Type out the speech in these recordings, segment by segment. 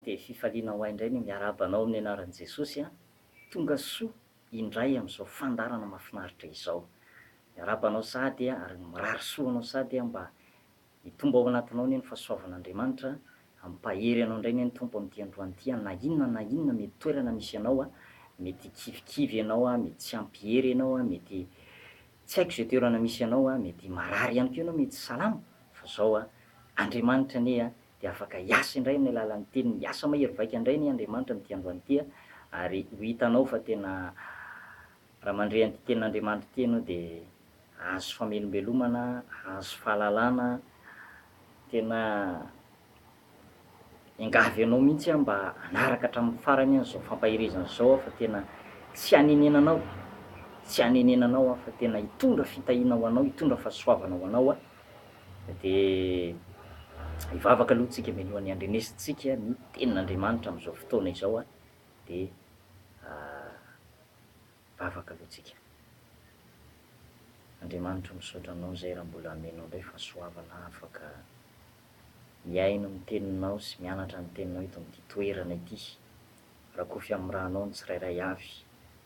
Dia fifaliana ho ahy indray ny miarahaba anao amin'ny anaran'i Jesosy an! Tonga soa indray amin'izao fandaharana mahafinaritra izao. Miarahaba anao sahady an! Ary mirary soa ho anao sahady an! Mba hitombo ao anatinao anie ny fahasoavan'Andriamanitra an! Hampahery anao indray anie ny Tompo amin'ity androany ity an! Na inona na inona mety toerana misy anao an! Mety hikivikivy ianao an! Mety tsy ampy hery ianao an! Mety tsy haiko izay toerana misy anao an! Mety marary ihany koa ianao, mety salama, fa izao an! Andriamanitra anie an! dia afaka hiasa indray amin'ny alalan'ny teniny, hiasa mahery vaika indray anie Andriamanitra amin'ity androany ity a, ary ho hitanao fa tena raha mandre an'ity tenin'Andriamanitra ity ianao dia hahazo famelombelomana, hahazo fahalalana, tena engavy anao mihitsy aho mba hanaraka hatramin'ny farany an'izao fampaherezana izao aho fa tena tsy hanenenanao, tsy hanenenanao aho fa tena hitondra fitahiana ho anao, hitondra fahasoavana ho anao aho. dia hivavaka aloha tsika mialohan'ny handrenesintsika ny tenin'Andriamanitra amin'izao fotoana izao dia hivavaka aloha tsika. Andriamanitra misaotra Anao izay raha mbola amenao indray fahasoavana afaka mihaino ny teninao sy mianatra ny teninao eto amin'ity toerana ity. Rakofy amin'ny ranao ny tsirairay avy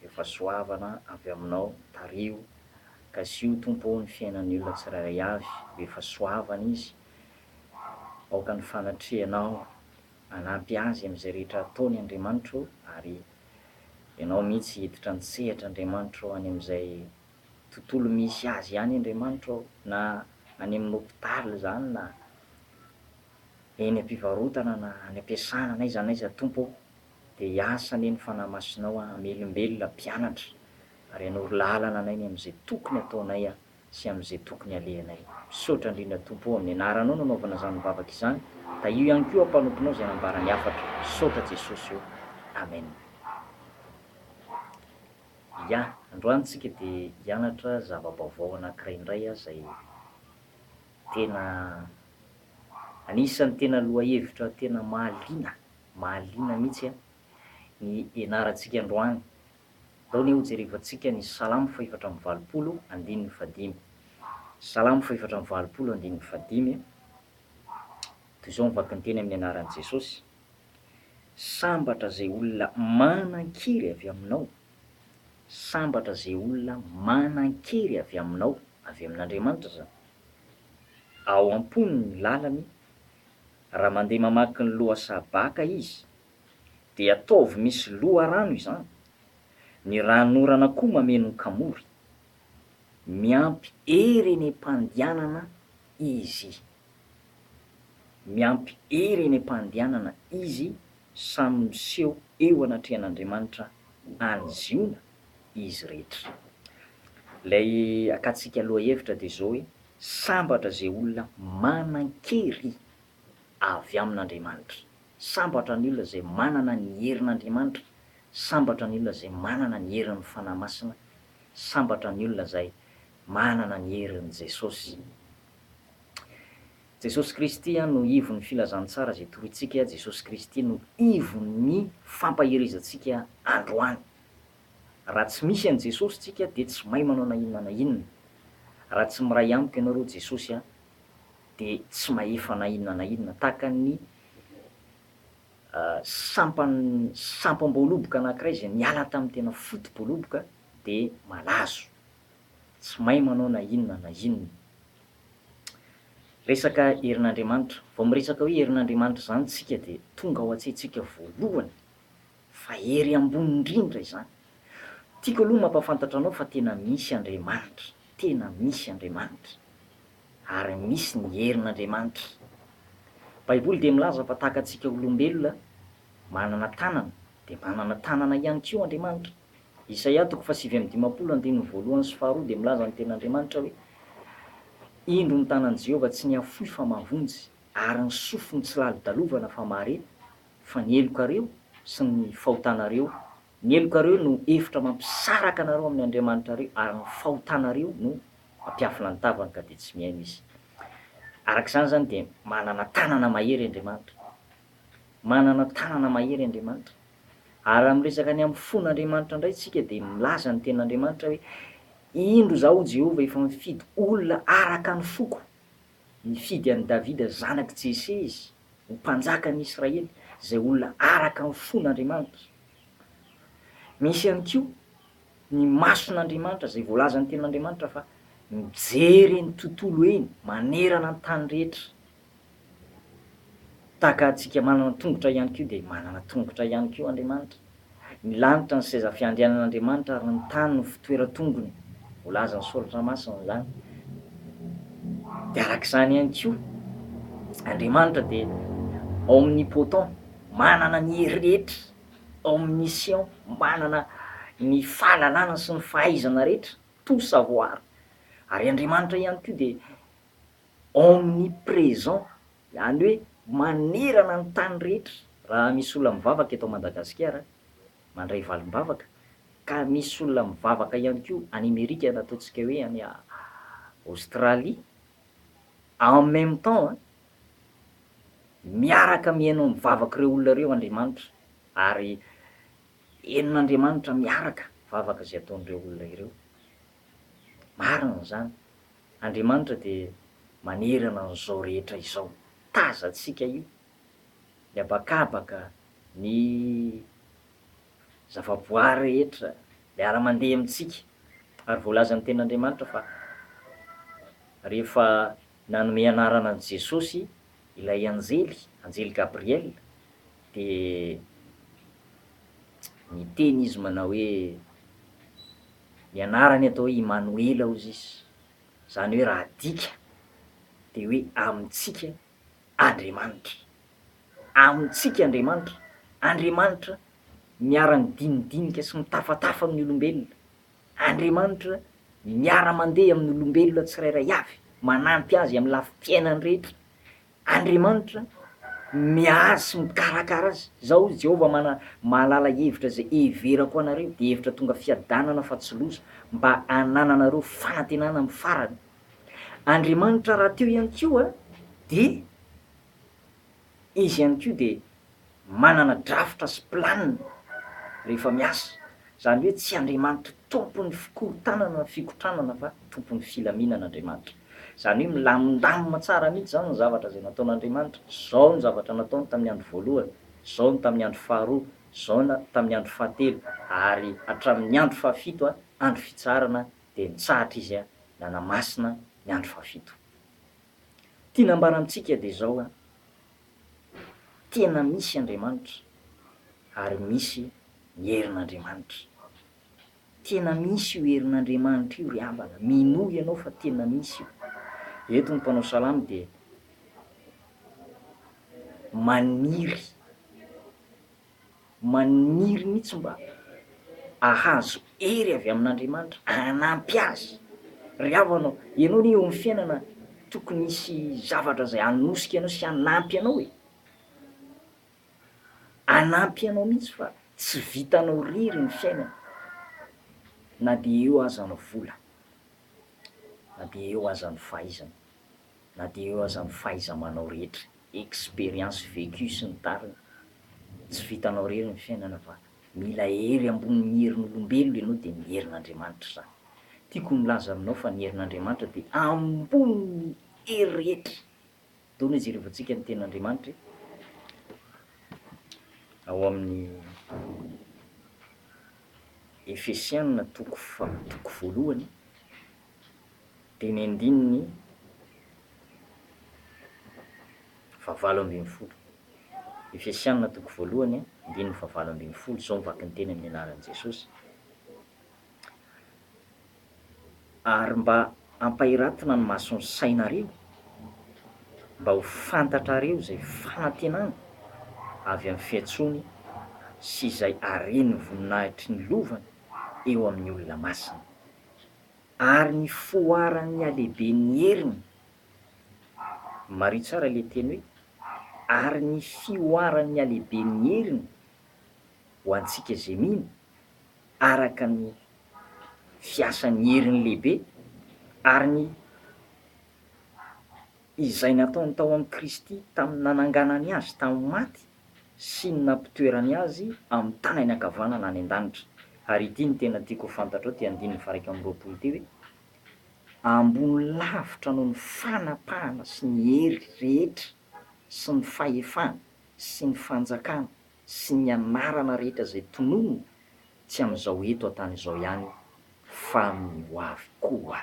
efa soavana avy aminao tariho Kasiho Tompo o ny fiainan'ny olona tsirairay avy efa soavana izy Aoka ny fanatrehanao hanampy azy amin'izay rehetra ataony Andriamanitra o Ary Ianao mihitsy hiditra an-tsehatra Andriamanitra o Any amin'izay tontolo misy azy ihany Andriamanitra o Na any amin'ny hopitaly izany na eny ampivarotana na any ampiasana n'aiza n'aiza Tompo ô dia hiasa anie ny Fanahy Masinao hamelombelona mpianatra ary hanoro lalana anay ny amin'izay tokony ataonay a sy amin'izay tokony alehanay. Misaotra indrindra Tompo ô amin'ny anaranao no anaovana izany vavaka izany, tahio ihany koa aho mpanomponao izay nambara ny hafatra. Misaotra Jesosy ô. Amen. Ya, androany tsika dia hianatra zava-baovao anankiray indray a izay. Tena anisan'ny tena lohahevitra tena mahaliana, mahaliana mihitsy an, ny ianarantsika androany. Andao anie hojerevantsika ny Salamo fahefatra amby valopolo, andininy fahadimy. Salamo fahefatra amby valopolo, andininy fahadimy, toy izao ny vakinteny amin'ny anaran'i Jesosy, Sambatra izay olona manan-kery avy aminao, sambatra izay olona manan-kery avy aminao. Avy amin'Andriamanitra izany. Ao am-pony ny lalany, raha mandeha mamaky ny lohasaha baka izy, dia ataovy misy loharano izany, ny ranonorana koa mameno ny kamory. Miampy hery eny am-pandianana izy. Miampy hery eny am-pandianana izy samy miseho eo anatrehan'Andriamanitra any Ziona, izy rehetra. Ilay akatsika lohahevitra dia izao hoe, Sambatra izay olona manan-kery avy amin'Andriamanitra. Sambatra ny olona izay manana ny herin'Andriamanitra. Sambatra ny olona izay manana ny herin'ny Fanahy Masina. Sambatra ny olona izay manana ny herin'i Jesosy. Jesosy Kristy no ivon'ny filazantsara izay torointsika, Jesosy Kristy no ivon'ny fampaherezantsika androany. Raha tsy misy an'i Jesosy tsika dia tsy mahay manao na inona na inona. Raha tsy miray amiko ianareo Jesosy a dia tsy mahefa na inona na inona. Tahaka ny sampan sampam-boaloboka anankiray izay niala tamin'ny tena foto-boaloboka dia malazo. Tsy mahay manao na inona na inona. Resaka herin'Andriamanitra. Vao miresaka hoe herin'Andriamanitra izany tsika dia tonga ao an-tsaintsika voalohany. Fa hery ambony indrindra izany. Tiako aloha mampafantatra anao fa tena misy Andriamanitra, tena misy Andriamanitra. Ary misy ny herin'Andriamanitra. Baiboly dia milaza fa tahaka antsika olombelona manana tanana dia manana tanana ihany koa Andriamanitra. Isaia toko fahasivy amby dimampolo andininy voalohany sy faharoa dia milaza ny tenin'Andriamanitra hoe, Indro ny tanan'i Jehovah tsy nihafoy fa mahavonjy, ary ny sofiny tsy lalodalovana fa mahare, Fa ny helokareo sy ny fahotanareo, ny helokareo no efitra mampisaraka anareo amin'ny Andriamanitrareo, ary ny fahotanareo no mampiafina ny tavany ka dia tsy mihaino izy. Araka izany izany dia manana tanana mahery Andriamanitra. Manana tanana mahery Andriamanitra. Ary raha miresaka ny amin'ny fon'Andriamanitra indray isika dia milaza ny Tenin'Andriamanitra hoe, Indro izaho Jehovah efa mifidy olona araka ny foko, Nifidy an'i Davida zanak'i Jese izy ho mpanjaka an'i Israely, izay olona araka ny fon'Andriamanitra. Misy ihany koa ny mason'Andriamanitra, izay voalazan'ny Tenin'Andriamanitra fa mijery eny tontolo eny, manerana ny tany rehetra. Tahaka antsika manana tongotra ihany koa dia manana tongotra ihany koa Andriamanitra. Ny lanitra ny seza fiandrianan'Andriamanitra ary ny tany no fitoeran-tongony, voalazan'ny Soratra Masina izany. Dia araka izany ihany koa, Andriamanitra dia omnipotent, manana ny hery rehetra, omniscient, manana ny fahalalana sy ny fahaizana rehetra, tout savoir, ary Andriamanitra ihany koa dia omnipresent, Any hoe manerana ny tany rehetra raha misy olona mivavaka eto Madagasikara mandray valim-bavaka ka misy olona mivavaka ihany koa any Amerika na ataontsika hoe any Australie en même temps miaraka mihaino ny vavak'ireo olona ireo Andriamanitra ary henon'Andriamanitra miaraka vavaka izay ataon'ireo olona ireo. Marina izany. Andriamanitra dia manerana an'izao rehetra izao tazantsika io, ny habakabaka, ny zavaboary rehetra miara-mandeha amintsika. Ary voalazan'ny Tenin'Andriamanitra fa rehefa nanome anarana an'i Jesosy ilay anjely, anjely Gabriel, dia niteny izy manao hoe, Ny anarany atao hoe Imanoela ozy izy, izany hoe raha adika dia hoe amintsika Andriamanitra. Amintsika Andriamanitra, Andriamanitra miara-midinidinika sy mitafatafa amin'ny olombelona, Andriamanitra miara-mandeha amin'ny olombelona tsirairay avy, manampy azy amin'ny lafim-piainany rehetra, Andriamanitra miahy sy mikarakara azy. Izao hoy Jehovah, Mana, Mahalala hevitra izay heverako anareo, dia hevitra tonga fiadanana fa tsy loza, mba hanananareo fanantenana amin'ny farany. Andriamanitra rahateo ihany koa dia Izy ihany koa dia. manana drafitra sy plan rehefa miasa, zany hoe tsy Andriamanitra tompon'ny fikorontanana ny fikotranana fa tompon'ny filaminana Andriamanitra, zany hoe milamindamina tsara mihitsy zany ny zavatra zay nataon'Andriamanitra, zao ny zavatra nataony tamin'ny andro voalohany, zao ny tamin'ny andro faharoa, zao ny tamin'ny andro fahatelo ary hatramin'ny andro fahafito andro fitsaharana dia nitsahatra izy nanamasina ny andro fahafito. Tiana ambara amintsika dia zao, tena misy Andriamanitra ary misy ny herin'Andriamanitra. Tena misy io herin'Andriamanitra io ry havana, minoa ianao fa tena misy io. Eto ny mpanao salamo dia maniry. Maniry mihitsy mba hahazo hery avy amin'Andriamanitra hanampy azy. Ry havana ô, ianao anie eo amin'ny fiainana tokony hisy zavatra izay hanosika anao sy hanampy anao e. Hanampy anao mihitsy fa tsy vitanao irery ny fiainana na dia eo aza ny vola, na dia eo aza ny fahaizana. na dia eo aza ny fahaiza-manao rehetra, expérience vécue sy ny tariny, tsy vitanao rery ny fiainana fa mila hery ambony ny herin'olombelona ianao dia ny herin'Andriamanitra izany. Tiako ho milaza aminao fa ny herin'Andriamanitra dia ambony ny hery rehetra. Dona hoe jerevantsika ny tenin'Andriamanitra e! Ao amin'ny Efesiana toko faha toko voalohany. dimy andininy fahavalo ambin'ny folo. Efesiana toko voalohany a, andininy fahavalo ambin'ny folo, izao ny vakin'ny teny amin'ny anaran'i Jesosy, Ary mba hampahiratana ny mason'ny sainareo, mba ho fantatrareo izay fanantenana avy amin'ny fiantsoany sy izay haren'ny voninahitry ny lovany eo amin'ny olona masina. Ary ny foaran'ny halehiben'ny heriny. Mariho tsara ilay teny hoe ary ny fihoaran'ny halehiben'ny heriny ho antsika izay mino, araka ny fiasan'ny heriny lehibe, ary ny. izay nataony tao amin'i Kristy tamin'ny nananganany azy tamin'ny maty sy ny nampitoerany azy amin'ny tanany ankavanana any an-danitra. Ary ity no tena tiako ho fantatrao ity andininy faharaika amby roapolo ity hoe, Ambony lavitra noho ny fanapahana sy ny hery rehetra sy ny fahefana sy ny fanjakana sy ny anarana rehetra izay tononina, tsy amin'izao eto an-tany izao ihany fa amin'ny hoavy koa.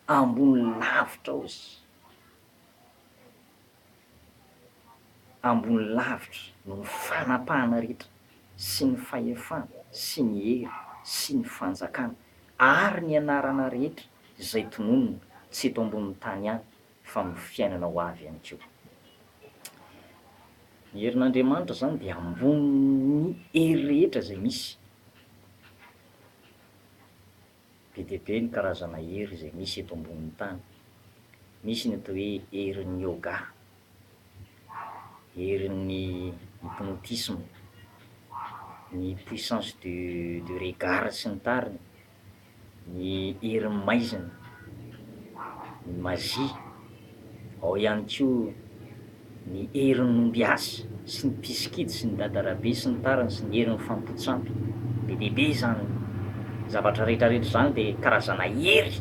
Ambony lavitra ozy ambony lavitra noho ny fanapahana rehetra sy ny fahefana sy ny hery sy ny fanjakana ary ny anarana rehetra izay tononina tsy eto ambonin'ny tany ihany fa amin'ny fiainana ho avy ihany koa. Ny herin'Andriamanitra izany dia ambonin'ny hery rehetra izay misy. Be dia be ny karazana hery izay misy eto ambonin'ny tany. Misy ny atao hoe herin'ny yoga, herin'ny hypnotisme, ny puissance du du regard sy ny tariny, ny herin'ny maizina, ny magie, ao ihany koa. ny herin'ny ombiasy sy ny mpisikidy sy ny dadarabe sy ny tariny sy ny herin'ny fampotsampy, be dia be izany zavatra rehetra rehetra izany dia karazana hery,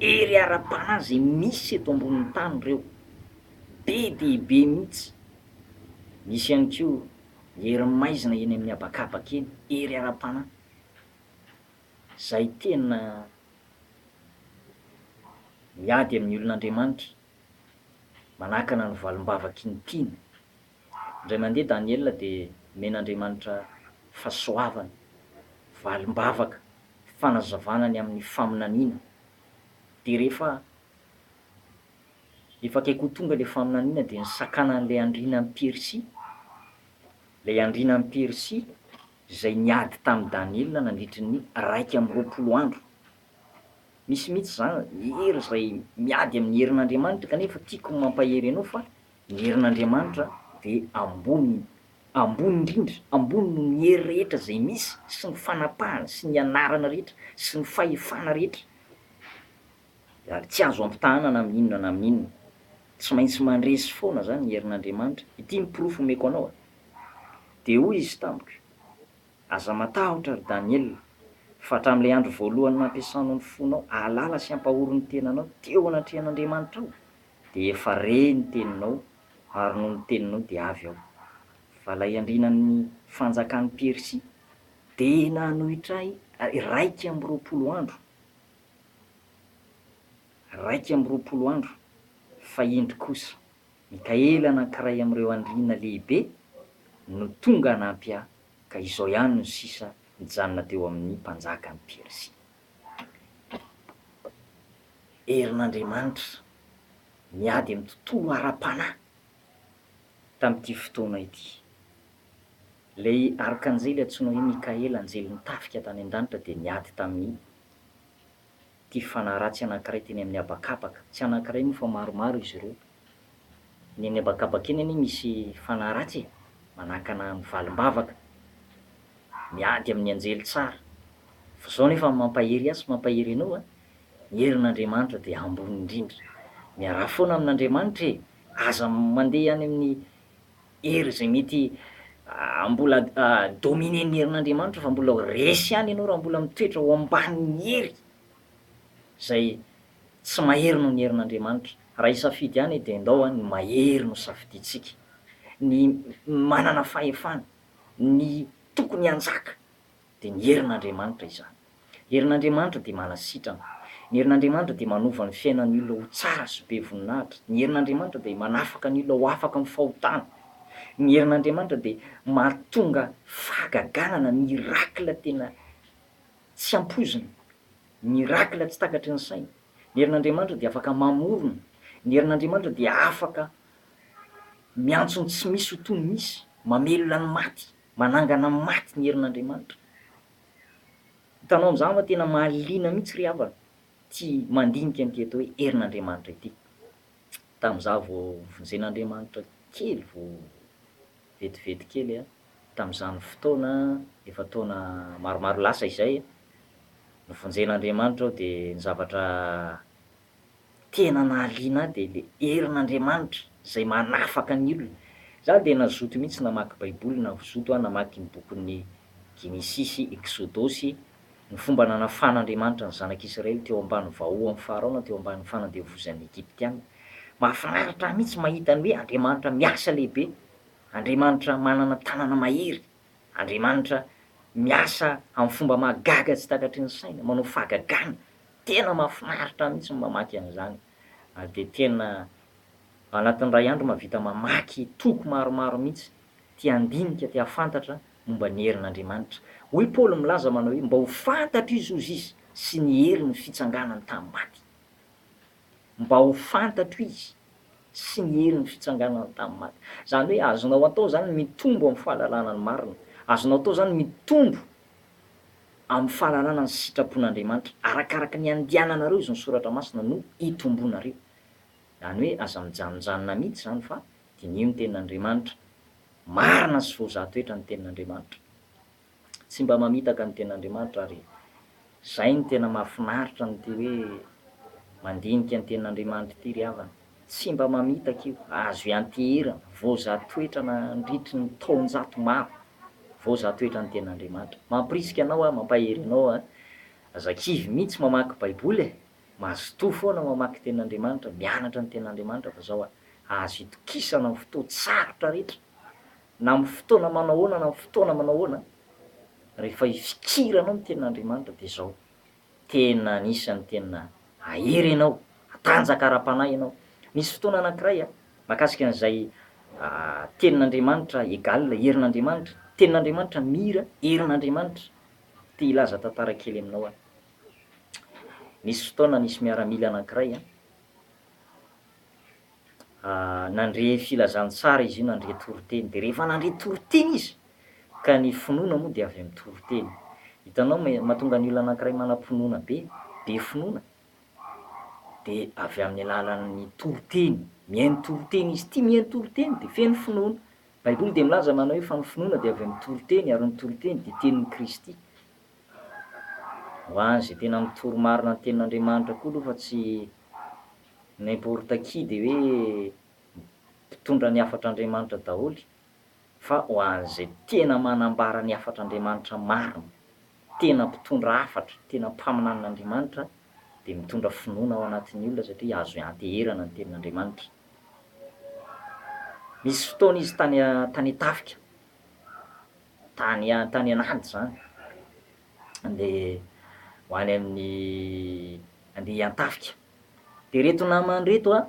hery ara-panahy izay misy eto ambonin'ny tany ireo, be dia be mihitsy, misy ihany koa ny herin'ny maizina eny amin'ny habakabaka eny, hery ara-panahy izay tena miady amin'ny olon'Andriamanitra. manakana ny valim-bavaky ny tiany. Indray mandeha Daniela dia nomen'Andriamanitra fahasoavana, valim-bavaka, fanazavana ny amin'ny faminaniana. Dia rehefa efa akaiky ho tonga ilay faminaniana dia nisakanan'ilay andriana any Persia, ilay andriana any Persia izay niady tamin'i Daniela nandritry ny iraika amby roapolo andro Misy mihitsy za ny hery izay miady amin'ny herin'Andriamanitra kanefa tiako ny mampahery anao fa ny herin'Andriamanitra dia ambony ambony indrindra, ambony noho ny hery rehetra izay misy sy ny fanapahana sy ny anarana rehetra sy ny fahefana rehetra ary tsy azo ampitahana na amin'ny inona na amin'ny inona. Tsy maintsy mandresy foana za ny herin'Andriamanitra, ity ny porofo omeko anao a! Dia hoy izy tamiko, Aza matahotra, ry Daniela, fa hatramin'ilay andro voalohany nampiasanao ny fonao hahalala sy hampahory ny tenanao teo anatrehan'Andriamanitra ao, dia efa re ny teninao, ary noho ny teninao dia avy ao. Fa ilay andrianan'ny fanjakan'i Persia dia nanohitra ahy iraika amby roapolo andro, iraika amby roapolo andro, fa indro kosa, Mikaela anankiray amin'ireo andriana lehibe no tonga hanampy ahy, ka izao ihany no sisa nijanona teo amin'ny mpanjakan'i Persia. Herin'Andriamanitra miady amin'ny tontolo ara-panahy tamin'ity fotoana ity. Ilay arkanjely antsoina hoe Mikaela, anjelin'ny tafika tany an-danitra, dia niady tamin'ny ity fanaratsy anankiray teny amin'ny habakabaka. Tsy anankiray moa fa maromaro izy ireo. Ny eny habakabaka eny anie misy fanaratsy e! Manakana ny valim-bavaka. Miady amin'ny anjely tsara. Fa izao anefa ny mampahery ahy sy mampahery anao a! Ny herin'Andriamanitra dia ambony indrindra. Miaraha foana amin'Andriamanitra e! Aza mandeha any amin'ny Hery izay mety mbola dominen'ny herin'Andriamanitra fa mbola resy ihany ianao raha mbola mitoetra ao ambanin'ny hery izay tsy mahery noho ny herin'Andriamanitra. Raha hisafidy ihany dia ndao ny mahery no safidiantsika, ny manana fahefana, ny tokony hanjaka Dia ny herin'Andriamanitra izany. Ny herin'Andriamanitra dia manasitrana. Ny herin'Andriamanitra dia manova ny fiainan'ny olona ho tsara sy be voninahitra. Ny herin'Andriamanitra dia manafaka ny olona ho afaka amin'ny fahotana. Ny herin'Andriamanitra dia mahatonga fahagagana na miracle tena tsy ampoizina. Miracle tsy takatry ny saina. Ny herin'Andriamanitra dia afaka mamorona. Ny herin'Andriamanitra dia afaka miantso ny tsy misy ho toy ny misy, mamelona ny maty. Manangana maty ny herin'Andriamanitra. Hitanao amin'izany fa tena mahaliana mihitsy ry havana ity mandinika an'ity atao hoe herin'Andriamanitra ity. Tamin'izaho vao vonjen'Andriamanitra kely vao vetivety kely tamin'izany fotoana efa taona maromaro lasa izay, novonjen'Andriamanitra aho dia ny zavatra tena nahaliana ahy dia le herin'Andriamanitra izay manafaka ny olona. Za dia nazoto mihitsy namaky baiboly navozoto aho namaky ny bokin'ny Genesisy, Eksodosy, ny fomba nanafan'Andriamanitra ny zanak'Israely teo ambany vahohan'i Farao na teo ambany fanandevozan'ny Egyptiana. Mahafinaritra ahy mihitsy mahita ny hoe Andriamanitra miasa lehibe, Andriamanitra manana tanana mahery, Andriamanitra miasa amin'ny fomba mahagaga tsy takatry ny saina, manao fahagagana Tena mafinaritra mihitsy ny mamaky an'izany ary dia tena ao anatin'ny iray andro mahavita mamaky toko maromaro mihitsy te handinika, te hahafantatra momba ny herin'Andriamanitra. Hoy i Paoly milaza manao hoe mba ho fantatro izy hozy izy sy ny heriny fitsanganany tamin'ny maty. Mba ho fantatro izy sy ny heriny fitsanganany tamin'ny maty. Izany hoe azonao atao izany ny mitombo amin'ny fahalalana ny marina. Azonao atao izany ny mitombo. amin'ny fananana ny sitrapon'Andriamanitra. Arakaraka ny andiananareo izy ny soratra masina no itombonareo. Izany hoe aza mijanonjanona mihitsy izany fa diniho ny tenin'Andriamanitra. Marina sy voazaha toetra ny tenin'Andriamanitra. Tsy mba mamitaka ny tenin'Andriamanitra ary izay no tena mahafinaritra ny ity hoe mandinika ny tenin'Andriamanitra ity ry havana. Tsy mba mamitaka io, azo ianteherana, voazaha toetra nandritry ny taonjato maro, voazaha toetra ny Tenin'Andriamanitra. Mampirisika anao aho, mampahery anao an! Aza kivy mihitsy mamaky Baiboly e! Mazotoa foana mamaky Tenin'Andriamanitra, mianatra ny Tenin'Andriamanitra fa zao an, azo itokisana amin'ny fotoan-tsarotra rehetra, na amin'ny fotoana manao ahoana na amin'ny fotoana manao ahoana, rehefa ifikiranao ny Tenin'Andriamanitra dia zao, Tena anisan'ny tena ahery ianao, matanjaka ara-panahy ianao. Nisy fotoana anankiray mahakasika an'izay tenin'Andriamanitra egal herin'Andriamanitra, tenin'Andriamanitra mir herin'Andriamanitra. Te hilaza tantara kely aminao aho. Nisy fotoana nisy miaramila anankiray. Nandre filazantsara izy io, nandre toriteny. Dia rehefa nandre toriteny izy, ka ny finoana moa dia avy amin'ny toriteny. Hitanao, mahatonga ny olona anankiray manam-pinoana be, be finoana, dia avy amin'ny alalan'ny toriteny. Mihaino toriteny izy, tia mihaino toriteny, dia feno finoana. Ny Baiboly dia milaza manao hoe, fa ny finoana dia avy amin'ny toriteny, ary ny toriteny dia tenin'i Kristy. Ho an'izay tena mitory marina ny Tenin'Andriamanitra koa aloha fa tsy N'importe qui de hoe mpitondra ny hafatr'Andriamanitra daholo fa ho an'izay tena manambara ny hafatr'Andriamanitra marina, tena mpitondra hafatra, tena mpaminanin'Andriamanitra dia mitondra finoana ao anatin'ny olona satria azo ianteherana ny tenin'Andriamanitra. Nisy fotoana izy tany tany an-tafika, tany tany an'ady izany, andeha ho any amin'ny andeha hiantafika. Dia reto namany reto a,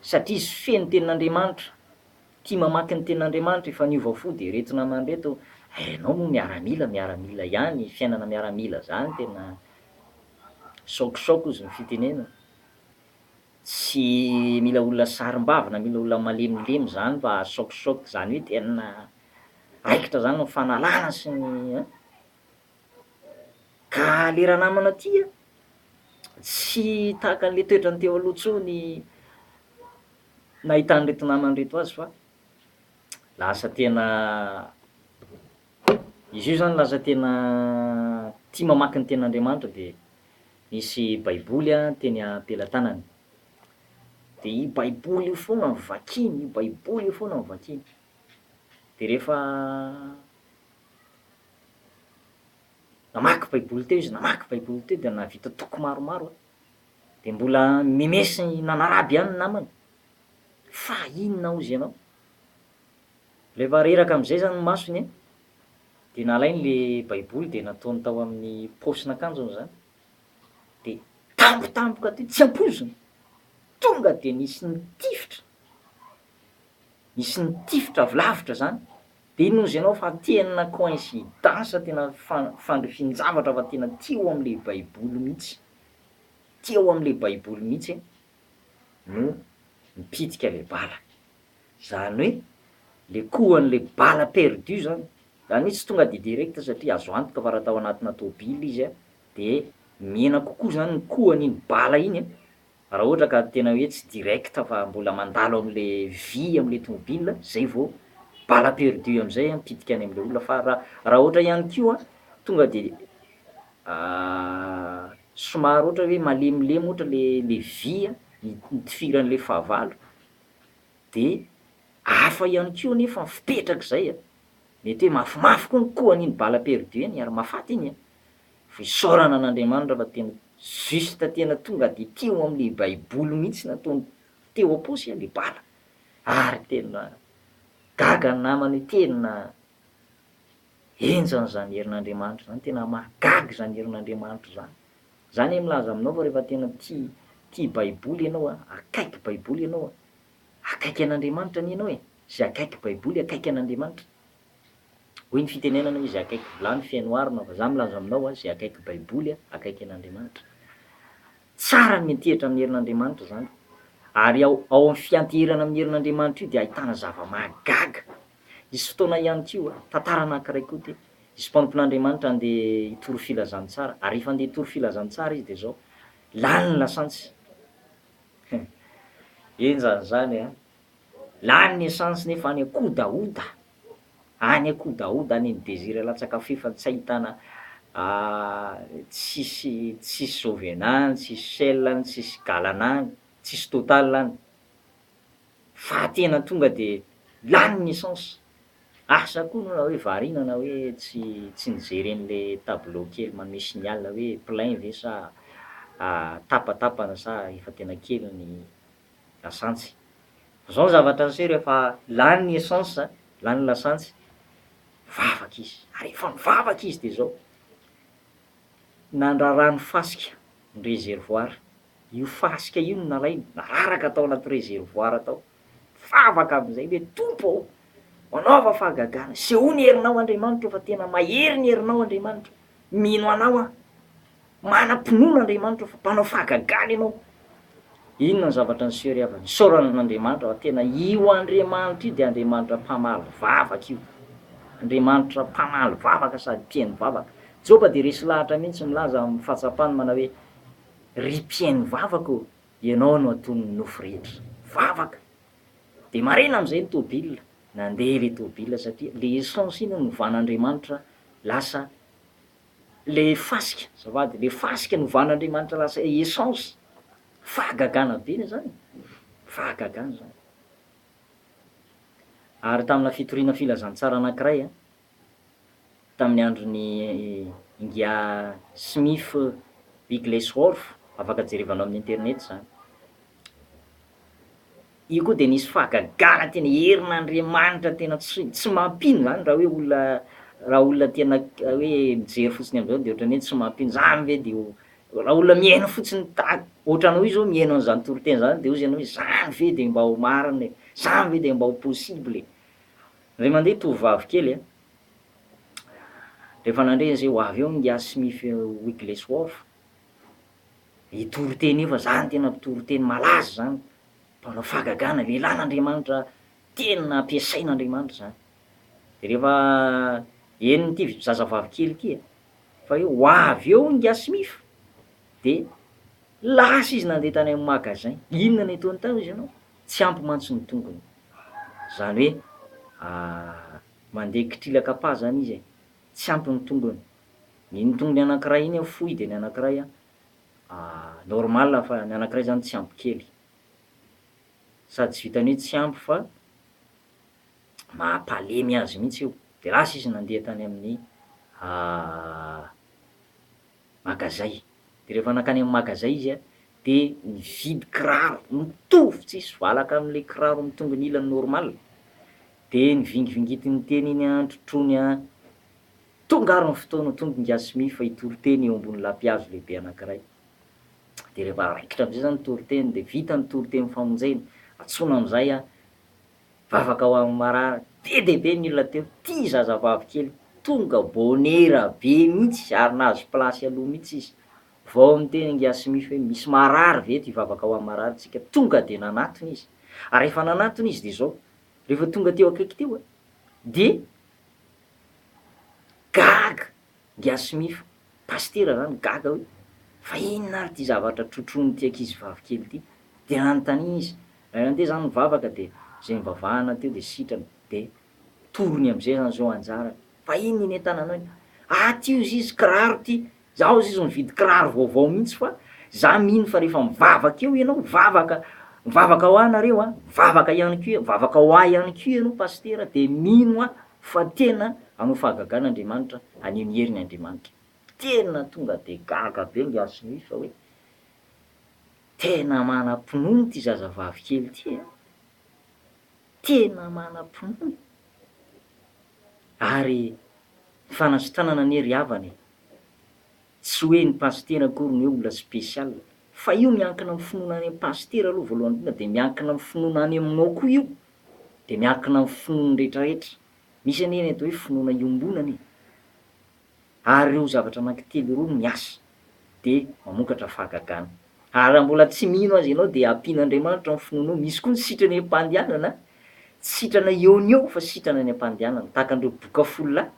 satria izy feno ny tenin'Andriamanitra, tia mamaky ny tenin'Andriamanitra, efa niova fo, dia reto namany reto, eh ianao moa miaramila, miaramila ihany, fiainana miaramila izany tena choc choc hozy ny fitenenana, tsy mila olona sarimbavy na mila olona malemilemy izany mba haha choc choc izany hoe tena raikitra izany ny fanalana sy ny eh. Ka le ranamana ty a, tsy tahaka an'le toetrany teo aloha tsony nahitan'ireto namany ireto azy fa lasa tena izy io zany lasa tena tia mamaky ny tenin'Andriamanitra de nisy baiboly a teny am-pelatanany, de io baiboly io foana no vakiny, io baiboly io foana no vakiny, de rehefa Namaky Baiboly teo izy, namaky Baiboly teo dia nahavita toko maromaro an! Dia mbola mi-mes nanaraby ihany ny namany, fa inona hozy ianao? Rehefa reraka amin'izay izany ny masony an! dia nalainy ilay Baiboly dia nataony tao amin'ny paosin'akanjony izany, dia tampotampoka teo tsy ampoizina, tonga dia nisy nitifitra, nisy nitifitra avy lavitra izany. Dia inozy ianao fa tena coïncidence tena fandrifin-javatra fa tena tia ao amin'ilay baiboly mihitsy, tia ao amin'ilay baiboly mihitsy no mipitika ilay bala. Izany hoe ilay kohan'ilay bala perdu izany, izany hoe tsy tonga dia direct satria azo antoka fa raha tao anatina tôbily izy dia mihena kokoa izany ny kohan'iny bala iny Raha ohatra ka tena hoe tsy direct fa mbola mandalo amle vy amle tomobile zay vao balle perdue amzay mipitika any amle olona fa raha ohatra ihany koa tonga de somary ohatra hoe malemilemy ohatra le vy nitifiranle fahavalo de hafa ihany koa nefa ny fipetrakzay, mety hoe mafimafy koa ny kohany iny balle perdue iny ary mahafaty iny e! Fisaorana an'Andriamanitra fa tena juste tena tonga de teo amle baiboly mihitsy nataony teo aposy le bala ary tena gaga ny namana hoe tena henjana zany herin'Andriamanitra zany tena mahagaga zany herin'Andriamanitra zany zany aho milaza aminao fa refa tena tia tia baiboly enao a akaiky baiboly enao a akaiky an'Andriamanitra anie enao e ze akaiky baiboly akaiky an'Andriamanitra. Hoy ny fitenenana hoe izay akaiky vilany feno arina fa za milaza aminao a izay akaiky baiboly a akaiky an'Andriamanitra. Tsara ny miantehitra amin'ny herin'Andriamanitra izany ary ao ao amin'ny fianteherana amin'ny herin'Andriamanitra io dia ahitana zava-mahagaga. Hisy fotoana ihany koa, tantara anankiray koa ty, hisy mpanompon'Andriamanitra handeha hitory filazantsara ary rehefa handeha hitory filazantsara izy dia izao, lany ny lasantsy. He, enjana izany a! Lany ny essence nefa any kodaoda any kodaoda any ny desir latsaka f'efa tsy ahitana tsisy tsisy jovena any tsisy shell any tsisy galana any tsisy total any fa tena tonga de lany ny essence asa koa no raha hoe variana na hoe tsy tsy nijery an'le tableau kely manome signal hoe plein ve sa tapatapany sa efa tena kely ny lasantsy. Zao ny zavatra niseho rehefa lany ny essence, lany ny lasantsy, nivavaka izy. Ary rehefa nivavaka izy dia zao, nandrara ny fasika ny réservoir, io fasika io no nalainy, nararaka tao anaty réservoir tao. Nivavaka amin'izay hoe Tompo ô! manaova fahagagana, sehoa ny herinao Andriamanitra ô fa tena mahery ny herinao Andriamanitra. Mino anao aho. Manam-pinoana Andriamanitra fa mpanao fahagagana ianao. Inona ny zavatra niseho ry havana? Isaorana an'Andriamanitra fa tena io Andriamanitra io dia Andriamanitra mpamaly vavaka io. Andriamanitra mpamaly vavaka sady tia ny vavaka. Joba dia resy lahatra mihitsy milaza amin'ny fahatsapany manao hoe, Ry mpihaino vavaka ô, ianao no aton'ny nofo rehetra. Vavaka! Dia marina amin'izay ny tobila. Nandeha ilay tôbila satria ilay essence iny novan'Andriamanitra lasa ilay fasika, azafady, ilay fasika novan'Andriamanitra lasa essence. Fahagagana be izany, fahagagana izany. Ary tamina fitoriana filazantsara anankiray, tamin'ny andron'i Ingia Smith Bigglesworth, afaka jerevanao amin'ny internet izany. Io koa dia nisy fahagagana tena herin'Andriamanitra tena tsy tsy mampino izany raha hoe olona raha olona tena hoe mijery fotsiny amin'izao dia ohatran'ny hoe tsy mampino, izany ve dia ho raha olona mihaino fotsiny tahaka ohatra anao io izao mihaino an'izany toriteny izany dia hozy ianao hoe izany ve dia mba ho marina e, izany ve dia mba ho possible e. Ry mandeha tovovavy kely a! Rehefa nandre an'izay ho avy eo ny Yasmith Wigglesworth, hitory teny io fa za no tena mpitory teny malaza izany, mpanao fahagagana, lehilahin'Andriamanitra tena ampiasain'Andriamanitra izany. Dia rehefa henon'ity zazavavy kely ity e, fa hoe ho avy eo ny Yasmith, dia lasa izy nandeha tany amin'ny magasin, inona no ataony tao izy ianao? Tsy ampy mantsy ny tongony. Zany hoe mandeha kitrilaka pas zany izy e. Tsy ampy ny tongony. Iny tongony anankiray iny an fohy dia ny anankiray an normal fa ny anankiray zany tsy ampy kely. Sady tsy vitan'ny hoe tsy ampy fa mampalemy azy mihitsy io. Dia lasa izy nandeha tany amin'ny Magazay. Dia rehefa nankany amin'ny magazay izy dia nividy kiraro mitovy tsisy valaka amin'ilay kiraro mitongin-ilany normal. Dia nivingivingitin'ny teny iny an, trotroiny an, tonga ary ny fotoana, tonga i Ngasmi fa hitoriteny eo ambony lapihazo lehibe anankiray. Dia rehefa raikitra amin'izay izany ny toriteny dia vita ny toritenin'ny famonjena, antsoina amin'izay an, Vavaka ho an'i marary be dia be ny olona teo, tia zazavavy kely, tonga bonera be mihitsy ary nahazo place aloha mihitsy izy, vao niteny angiasy mify hoe misy marary ve eto hivavaka ho an'i marary tsika, tonga dia nanatona izy, ary rehefa nanatona izy dia izao, rehefa tonga teo akaiky teo dia gaga. Ngiahy Smith, pasitera izany gaga hoe, Fa inona ary ity zavatra trotroin'ity ankizy vavy kely ity? Dia nanontaniana izy. Ray nandeha izany nivavaka dia izay nivavahana teo dia sitrana. Dia torony amin'izay izany izao anjarany. Fa inona iny entananao iny? Aty hozy izy, kiraro ity. Izaho hozy izy mividy kiraro vaovao mihitsy fa izaho mino fa rehefa mivavaka eo ianao, mivavaka, mivavaka ho ahy nareo an, mivavaka ihany koa, mivavaka ho ahy ihany koa ianao pasitera dia mino aho. Fa tena hanao fahagagana Andriamanitra, haneho ny heriny Andriamanitra. Tena tonga dia gaga be nge aho sy Louis fa hoe tena manam-pinoana ity zazavavy kely ity e! Tena manam-pinoana. Ary ny fanasitranana anie ry havana e! Tsy hoe ny pasitera akory no hoe olona spécial. Fa io miankina amin'ny finoana any amin'ny pasitera aloha voalohany indrindra dia miankina amin'ny finoana any aminao koa io. dia miankina amin'ny finoan'ny rehetra rehetra, misy anie ny atao hoe finoana iombonana e! ary ireo zavatra anankitelo ireo no miasa dia mamokatra fahagagana, ary raha mbola tsy mino azy ianao dia ampian'Andriamanitra ny finoanao, misy koa ny sitrana ampandehanana, tsy sitrana eo no eo fa sitrana any ampandehanana, tahaka an'ireo boka folo lahy,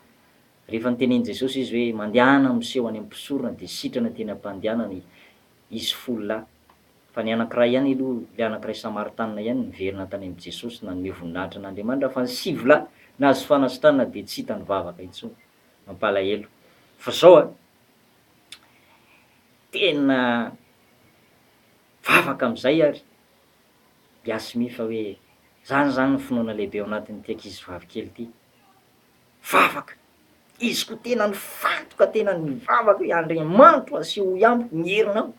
rehefa nitenenin'i Jesosy izy hoe mandehana miseho any amin'ny mpisorona dia sitrana teny ampandehanana izy, izy folo lahy, fa ny anankiray ihany aloha, ilay anankiray Samaritanina ihany niverina tany amin'i Jesosy nanome voninahitra an'Andriamanitra, fa ny sivy lahy nahazo fanasitranana dia tsy hita nivavaka intsony. Mampalahelo. Fa izao an, tena vavaka amin'izay ary Yasmine fa hoe izany izany ny finoana lehibe ao anatin'ity ankizivavikely ity. Vavaka, Izy koa tena nifantoka tena nivavaka hoe, Andriamanitro asehoy amiko ny herinao,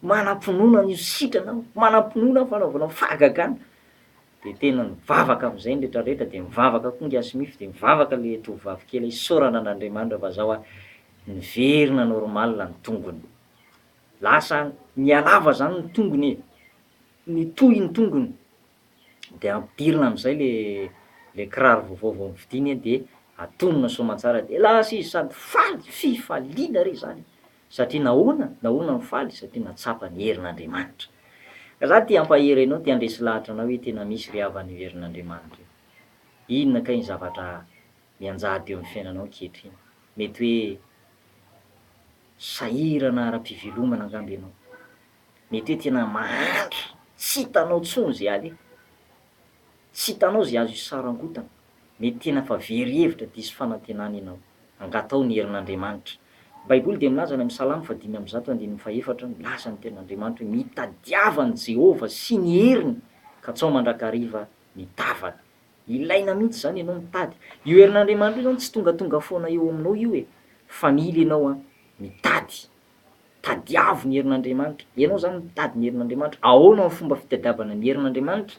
manam-pinoana ny ho sitrana aho, manam-pinoana ny fanaovanao fahagagana. De tena nivavaka am'zay ny rehetra rehetra, de nivavaka koa ngiahy Smith, de nivavaka le tovovavy kely hoe, Isaorana an'Andriamanitra fa zao aho niverina normal ny tongony. Lasa nihalava zany ny tongony e, nitohy ny tongony, de ampidirina amizay le le kiraro vaovao vao novidiny a de atonina soamantsara de lasa izy sady faly fifaliana re zany satria nahoana nahoana no faly satria natsapa ny herin'Andriamanitra ka za te hampahery anao te handresy lahatra anao hoe tena misy ry havana io herin'Andriamanitra io inona kay ny zavatra mianjady eo amin'ny fiainanao ankehitriny mety hoe sahirana ara-pivelomana angamba ianao Mety hoe tena mahantra, tsy hitanao intsony izay aleha. Tsy hitanao izay azo isarangotana. Mety tena fa very hevitra, diso fanantenana ianao. Angataho ny herin'Andriamanitra. Ny Baiboly dia milaza any amin'ny Salamo fahadimy amby zato andininy fahefatra, milaza ny Tenin'Andriamanitra hoe, Mitadiava an'i Jehovah sy ny heriny, katsaho mandrakariva ny tavany. Ilaina mihitsy izany ianao mitady. Io herin'Andriamanitra io izany tsy tongatonga foana eo aminao io e. Fa mila ianao mitady Tadiavo ny herin'Andriamanitra. Ianao izany mitady ny herin'Andriamanitra. Ahoana ny fomba fitadiavana ny herin'Andriamanitra?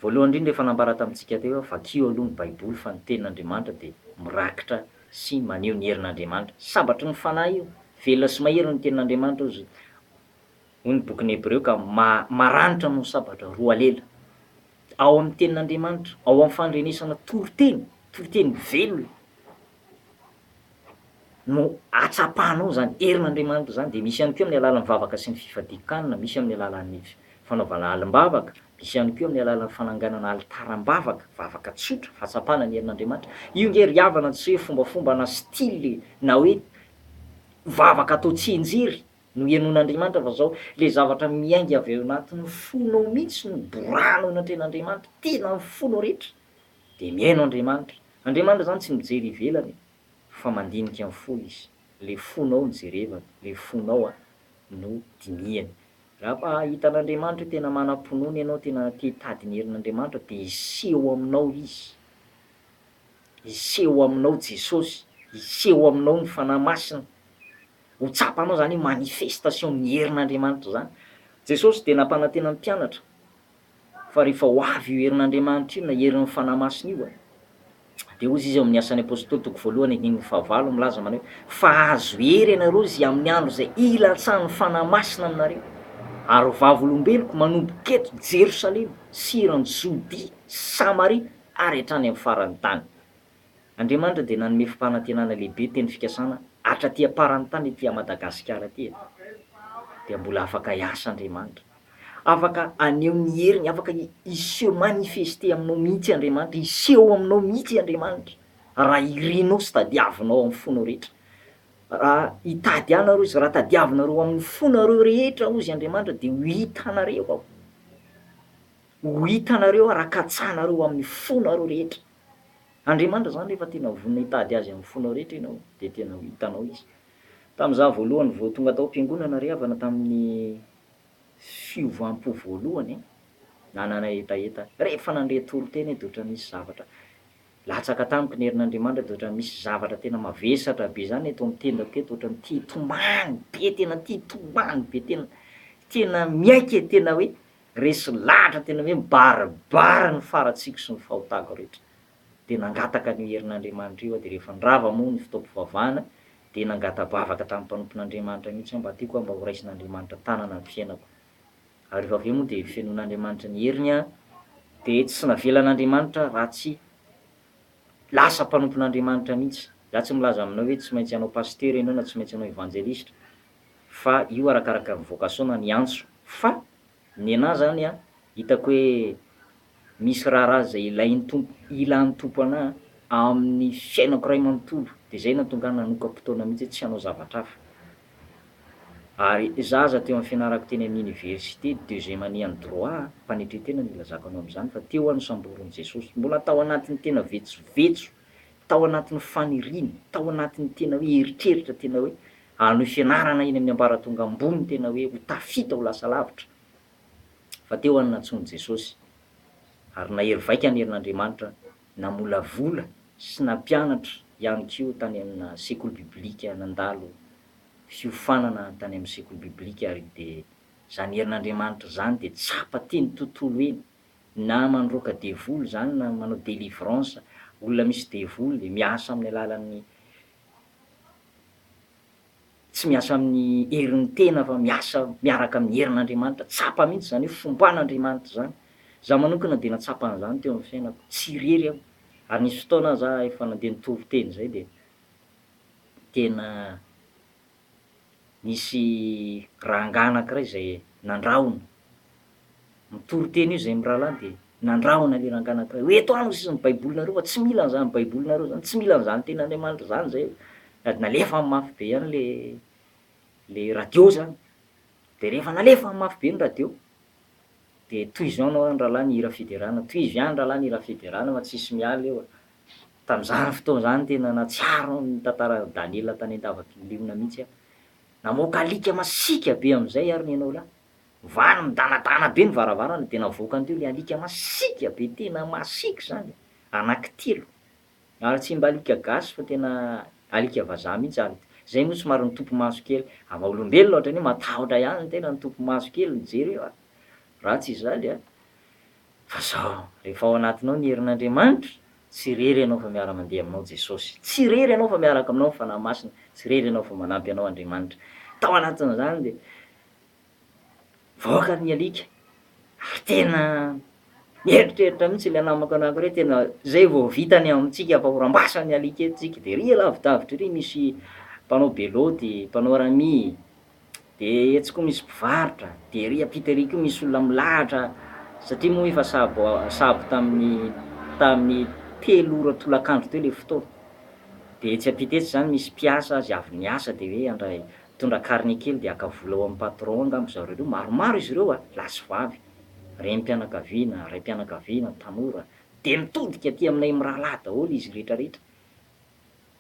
Voalohany indrindra efa nambara tamintsika teo aho, vakio aloha ny Baiboly fa ny tenin'Andriamanitra dia mirakitra sy maneho ny herin'Andriamanitra. Sabatry ny fanahy io. Velona sy mahery ny tenin'Andriamanitra hozy, hoy ny bokin'ny Hebreo ka maranitra noho ny sabatra roa lela. Ao amin'ny tenin'Andriamanitra, ao amin'ny fandrenesana toriteny, toriteny velona no atsapanao izany herin'Andriamanitra izany, dia misy ihany koa amin'ny alalan'ny vavaka sy ny fifadian-kanina, misy amin'ny alalan'ny fanaovana alim-bavaka, misy ihany koa amin'ny alalan'ny fananganana alitaram-bavaka, vavaka tsotra, fahatsapana ny herin'Andriamanitra. Io nge ry havana tsy hoe fombafomba na style na hoe vavaka atao tsianjery no henoin'Andriamanitra fa izao, ilay zavatra miainga avy ao anatin'ny fonao mihitsy no borahanao eo anatrehan'Andriamanitra, tena ny fonao rehetra, Dia mihaino Andriamanitra. Andriamanitra izany tsy mijery ivelany e, fa mandinika ny fo Izy. Ilay fonao no jerevany, ilay fonao no dinihany. Raha fa hahita an'Andriamanitra hoe tena manam-pinoana ianao, tena te hitady ny herin'Andriamanitra, dia hiseho aminao Izy. Hiseho aminao Jesosy, hiseho aminao ny Fanahy Masina. Ho tsapanao izany hoe manifestation ny herin'Andriamanitra izany. Jesosy dia nampanantena ny mpianatra Fa rehefa ho avy io herin'Andriamanitra io na herin'ny Fanahy Masina io, dia hoy Izy ao amin'ny Asan'ny Apôstôly toko voalohany andininy fahavalo milaza manao hoe, Fa hahazo hery ianareo izay amin'ny andro izay hilatsahan'ny Fanahy Masina aminareo, ary vavolombeloko manomboka eto Jerosalema sy eran'i Jodia sy Samaria ary hatrany amin'ny faran'ny tany. Andriamanitra dia nanome fampanantenana lehibe teny fikasana atra aty aparany tany aty Madagasikara aty e! Dia mbola afaka hiasa Andriamanitra. Afaka haneho ny heriny, afaka hi se manifester aminao mihitsy Andriamanitra, hiseho aminao mihitsy Andriamanitra raha irinao sy tadiavinao amin'ny fonao rehetra. Raha hitady ahy nareo izy, raha tadiavinareo amin'ny fonareo rehetra hozy Andriamanitra dia ho hitanareo aho. Ho hitanareo aho raha katsahanareo amin'ny fonareo rehetra. Andriamanitra izany rehefa tena vonona hitady Azy amin'ny fonao rehetra ianao dia tena ho hitanao Izy. Tamin'izaho voalohany vao tonga tao am-piangonana ry havana tamin'ny fiovam-po voalohany an, nanana hetaheta rehefa nandre toriteny aho dia ohatran'ny nisy zavatra latsaka tamiko ny herin'Andriamanitra dia ohatran'ny misy zavatra tena mavesatra be izany eto amin'ny tendako eto ohatran'ny te hitomany be tena te hitomany be tena tena miaiky e tena hoe Resy lahatra tena hoe mibaribary ny faratsiako sy ny fahotako rehetra. Dia nangataka an'io herin'Andriamanitra io aho, dia rehefa nirava moa ny fotoam-pivavahana dia nangata-bavaka tamin'ny mpanompon'Andriamanitra mihitsy aho mba tiako aho mba horaisin'Andriamanitra tanana ny fiainako. Ary rehefa avy eo moa dia fenoin'Andriamanitra ny heriny aho dia tsy navelan'Andriamanitra raha tsy lasa mpanompon'Andriamanitra mihitsy. Izaho tsy milaza aminao hoe tsy maintsy hanao pasitera ianao na tsy maintsy hanao evanjelistra fa io arakaraka ny vocation na ny antso fa ny anah zany an hitako hoe misy raharaha zay ilain'ny Tompo ilan'ny Tompo anah amin'ny fiainako ray manontolo de zay nahatonga ahy nanoka-potoana mihitsy hoe tsy hanao zavatra hafa ary zah aza teo amin'ny fianarako teny amin'ny université deuxième année an'ny droit an mpanetren-tena no ilazako anao amin'izany fa teo aho nosamborin'i Jesosy mbola tao anatin'ny tena vetsovetso tao anatin'ny faniriana tao anatin'ny tena hoe eritreritra tena hoe Hanohy fianarana eny amin'ny ambaratonga ambony tena hoe ho tafita ho lasa lavitra fa teo any nantsoiny Jesosy ary nahery vaika ny herin'Andriamanitra namolavola sy nampianatra ihany koa tany amina sekoly biblika nandalo fiofanana tany amin'ny sekoly biblika ary dia izany herin'Andriamanitra izany dia tsapa teny tontolo eny na mandroaka devoly izany na manao delivrance olona misy devoly miasa amin'ny alalan'ny Tsy miasa amin'ny herin'ny tena fa miasa miaraka amin'ny herin'Andriamanitra. Tsapa mihitsy izany hoe fomban'Andriamanitra izany. Izaho manokana dia nahatsapa an'izany teo amin'ny fiainako. Tsy irery aho ary nisy fotoana aho za efa nandeha nitovy teny izay dia tena nisy rangahy anankiray izay nandrahona Mitoriteny io izay mirahalahy dia nandrahona ilay rangahy anankiray hoe eto any sisa ny baibolinareo fa tsy mila an'izany baibolinareo izany, tsy mila an'izany tenin'Andriamanitra izany izay, sady nalefany mafy be ihany ilay ilay radio izany, dia rehefa nalefany mafy be ny radio dia tohizo ihany ho'a ny rahalahy ny hira fiderana, tohizo ihany rahalahy ny hira fiderana fa tsisy miala eo, tamin'izany fotoana izany tena nahatsiaro ny tantaran'i Daniela tany an-davakin'ny liona mihitsy aho, namoaka alika masiaka be amin'izay ary ny anao lahy. Valo nidanadana be ny varavarana dia navoakany teo ilay alika masiaka be tena masiaka izany e! anaky telo ary tsy mba alika gasy fa tena alika vazaha mihitsy ary izay moa somary nitopy maso kely raha vao olombelona ohatrany hoe matahotra ihany ny tena nitopy maso kely nijery io a! raha tsy izany a! fa zao rehefa ao anatinao ny herin'Andriamanitra tsy irery ianao fa miara mandeha aminao Jesosy tsy irery ianao fa miaraka aminao ny Fanahy Masina tsy irery ianao fa manampy anao Andriamanitra tao anatin'izany dia mivoaka ny alika ary tena mieritreritra mihitsy ilay namako anankiray hoe tena izay vao vita ny amintsika fa horam-basa ny alika eto tsika, dia ery lavidavitra ery misy mpanao be lôty, mpanao rami, dia etsy koa misy mpivarotra, dia ery ampita ery koa misy olona milahatra satria moa efa sabo sabo tamin'ny tamin'ny telo ora tolakandro teo ilay fotoana, dia etsy ampita etsy izany misy mpiasa azy avy niasa dia hoe andray Mitondra carnet kely dia haka vola ao amin'ny patron angamba zareo ireo, maromaro izy ireo a, lahy sy vavy, renim-pianakaviana, raim-pianakaviana, tanora, dia mitodika aty aminay mirahalahy daholo izy rehetrarehetra.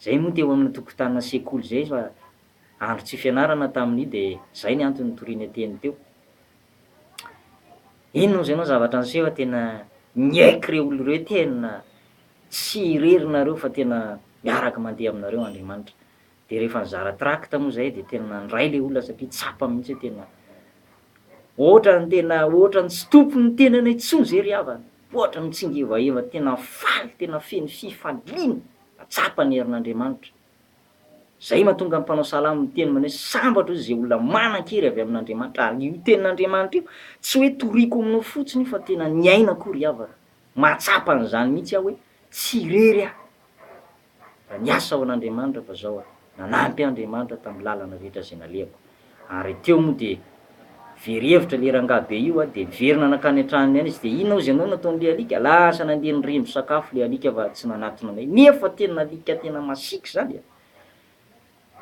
Izay moa teo amin'ny tokotanina sekoly izay fa andro tsy fianarana tamin'io dia izay ny antony nitoriana teny teo. Inona moa izay no zavatra niseho fa tena niaiky ireo olona ireo hoe tena tsy irery nareo fa tena miaraka mandeha aminareo Andriamanitra. Dia rehefa nizara tract moa izay dia tena nandray ilay olona satria tsapa mihitsy hoe tena ohatran'ny tena ohatran'ny tsy tompon'ny tenany intsony izay ry havana. Ohatran'ny mitsingevaeva tena faly tena feno fifaliana fa tsapa ny herin'Andriamanitra. Izay mahatonga ny mpanao salamo miteny manao hoe sambatra hozy izay olona manan-kery avy amin'Andriamanitra ary io tenin'Andriamanitra io tsy hoe toriko aminao fotsiny io fa tena niainako io ry havana. Mahatsapa an'izany mihitsy aho hoe tsy irery aho. fa niasa ho an'Andriamanitra fa zao aho, nanampy ahy Andriamanitra tamin'ny lalana rehetra izay nalehako. Ary teo moa dia very hevitra le rangahy be io a, de niverina nankany an-tranony any izy, de inona hozy ianao nataon'le alika, lasa nandeha niremby sakafo le alika fa tsy nanatona anay, nefa tena alika tena masiaka zany e!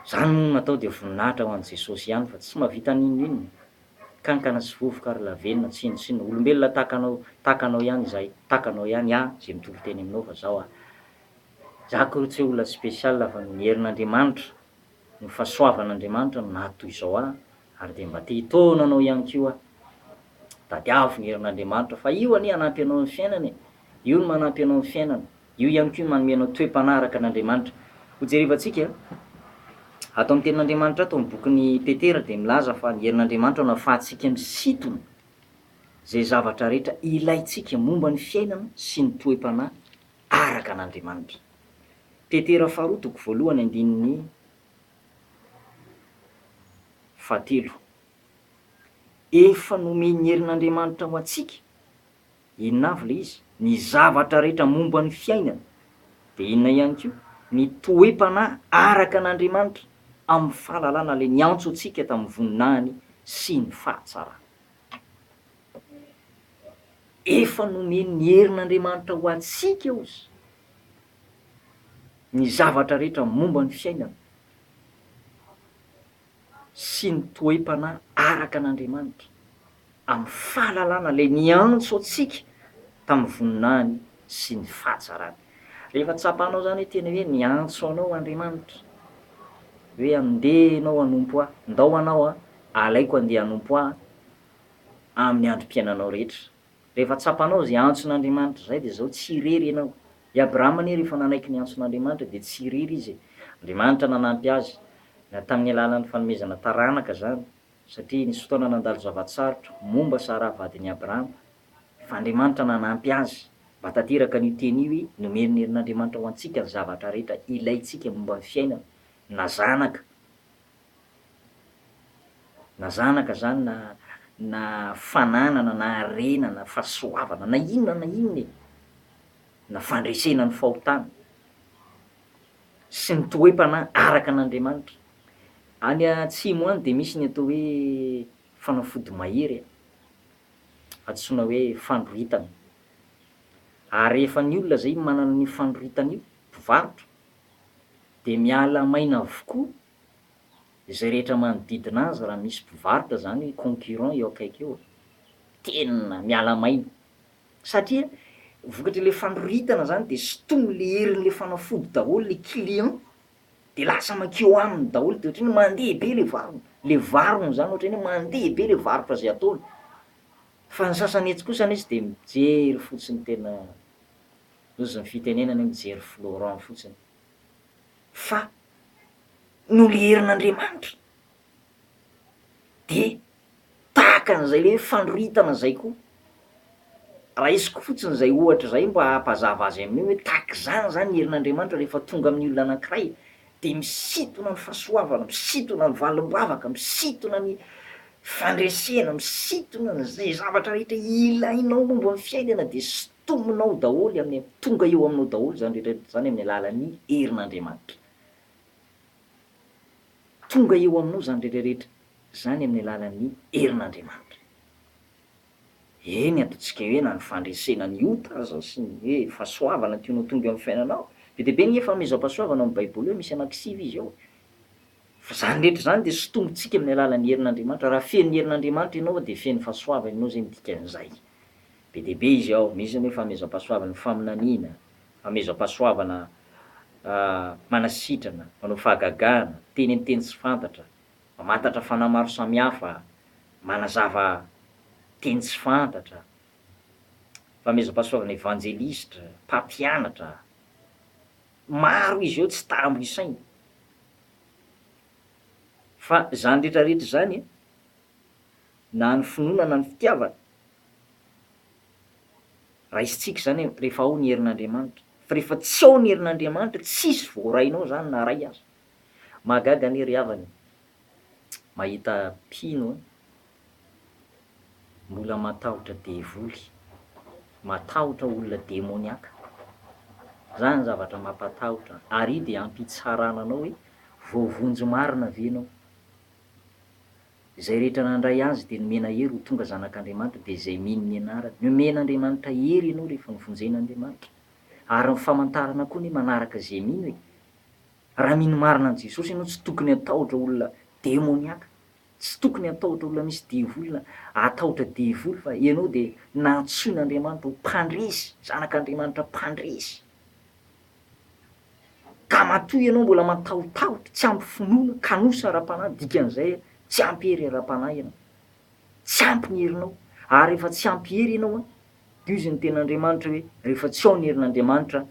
Zany moa natao dia voninahitra ho an'i Jesosy ihany fa tsy mahavita n'inon'inona, kankana sy vovoka ary lavenona, tsinontsinona, olombelona tahaka anao, tahaka anao ihany izahay, tahaka anao ihany aho izay mitory teny aminao fa zao aho, Jackro tsy olona special fa ny herin'Andriamanitra, ny fahasoavan'Andriamanitra no naha toy izao ahy ary dia mba te hitaona anao ihany koa aho. Tadiavo ny herin'Andriamanitra fa io anie hanampy anao amin'ny fiainana e! Io no manampy anao amin'ny fiainana, io ihany koa no manome anao toe-panaraka an'Andriamanitra. Hojerevantsika, ato amin'ny tenin'Andriamanitra ato amin'ny bokin'i Petera dia milaza fa ny herin'Andriamanitra no ahafahantsika misintona izay zavatra rehetra ilaintsika momba ny fiainana sy ny toe-panahy. araka an' Andriamanitra. Petera faharoa toko voalohany andininy fahatelo. Efa nomen'ny herin' Andriamanitra ho antsika, inona avy ilay izy? Ny zavatra rehetra momba ny fiainana, dia inona ihany koa? Ny toe-panahy araka an' Andriamanitra amin'ny fahalalana ilay niantso antsika tamin'ny voninahiny sy ny fahatsarany. Efa nomen'ny herin'Andriamanitra ho antsika ozy ny zavatra rehetra momba ny fiainana sy ny toe-panahy araka an'Andriamanitra, amin'ny fahalalana ilay niantso antsika tamin'ny voninahiny sy ny fahatsarany. Rehefa tsapanao izany hoe tena hoe niantso anao Andriamanitra hoe andeha ianao hanompo Ahy, ndao hanao an, alaiko andeha hanompo Ahy amin'ny androm-piainanao rehetra. Rehefa tsapanao izay antson'Andriamanitra izay dia izao, tsy irery ianao. I Abrahama anie rehefa nanaiky ny antson'Andriamanitra dia tsy irery izy e. Andriamanitra nanampy azy, na tamin'ny alalan'ny fanomezana taranaka izany, satria nisy fotoana nandalo zava-tsarotra momba Saraha vadin'i Abrahama, Fa Andriamanitra nanampy azy mba tanteraka an'io teny io i, Nomeny ny herin'Andriamanitra ho antsika ny zavatra rehetra ilaintsika momba ny fiainana, na zanaka, na zanaka izany na na fananana na harena na fahasoavana na inona na inona e, na fandresena ny fahotana sy ny toe-panahy araka an'Andriamanitra. Any atsimo any dia misy ny atao hoe fanafody mahery a. antsoina hoe fandroritana. Ary rehefa ny olona izay manana an'io fandroritana io, mpivarotra, dia miala maina avokoa izay rehetra manodidina azy raha misy mpivarotra izany concurrent eo akaiky eo, tena miala maina. Satria vokatr'ilay fandroritana izany dia sintomin'ilay herin'ilay fanafody daholo ilay client de lasa makeo aminy daholo de otrany mandeha be le varony, le varony zany otrany hoe mandeha be le varotra zay ataony, fa ny sasany etsy kosa anesy de mijery fotsiny tena ozy ny fitenenana hoe mijery florent fotsiny, fa noliherin'Andriamanitra. De tahaka an'izay hoe fanoritana zay koa, raisiko fotsiny zay ohatra zay mba hampazava azy amin'io hoe tahaka izany zany ny herin'Andriamanitra rehefa tonga amin'ny olona anankiray de misintona ny fahasoavana, misintona ny valim-bavaka, misintona ny fandresena, misintona izay zavatra rehetra ilainao momba ny fiainana de sintominao daholo amin'ny, tonga eo aminao daholo zany rehetra rehetra zany amin'ny alalan'ny herin'Andriamanitra. Tonga eo aminao izany rehetra rehetra izany amin'ny alalan'ny herin'Andriamanitra. Eny, ataontsika hoe na ny fandresena ny ota aza sy ny hoe fahasoavana tianao ho tonga eo amin'ny fiainanao. Be dia be ny hefa hamezam-pahasoavana ao amin'ny Baiboly hoe misy anaky sivy izy ao. Fa izany rehetra izany dia sintomintsika amin'ny alalan'ny herin'Andriamanitra. Raha feno ny herin'Andriamanitra ianao dia feno fahasoavana ianao izay ny dikan'izay. Be dia be izy ao, misy ny hoe fahamezam-pahasoavana, ny faminaniana, Amezam-pahasoavana manasitrana, manao fahagagana, miteny ny teny tsy fantatra, mamantatra fanahy maro samihafa, manazava teny tsy fantatra, famezam-pahasoavana evanjelistra, mpampianatra, maro izy eo tsy tambo isaina. Fa izany rehetra rehetra izany na ny finoana na ny fitiavana Raisintsika izany rehefa ao ny herin'Andriamanitra. Fa rehefa tsy ao ny herin'Andriamanitra, tsisy voarainao izany na iray aza. Mahagaga anie ry havana e! Mahita mpino mbola matahotra devoly, matahotra olona demoniaka. Izany zavatra mampatahotra. Ary io dia hampitsarana anao hoe voavonjy marina ve ianao. Izay rehetra nandray Azy dia nomena hery ho tonga zanak'Andriamanitra, dia izay mino ny anarany. Nomen'Andriamanitra hery ianao rehefa novonjena Andriamanitra. Ary ny famantarana koa anie manaraka izay mino e! Raha mino marina an'i Jesosy ianao tsy tokony hatahotra olona demoniaka, tsy tokony hatahotra olona misy devolina, hatahotra devoly fa ianao dia nantsoin'Andriamanitra ho mpandresy, zanak'Andriamanitra mpandresy. Ka matoa ianao mbola matahotahotra, tsy ampy finoana, kanosa ara-panahy, dikan'izay tsy ampy hery ara-panahy ianao. Tsy ampy ny herinao. Ary rehefa tsy ampy hery ianao an, dia hoy izy ny Tenin'Andriamanitra hoe, rehefa tsy ao ny herin'Andriamanitra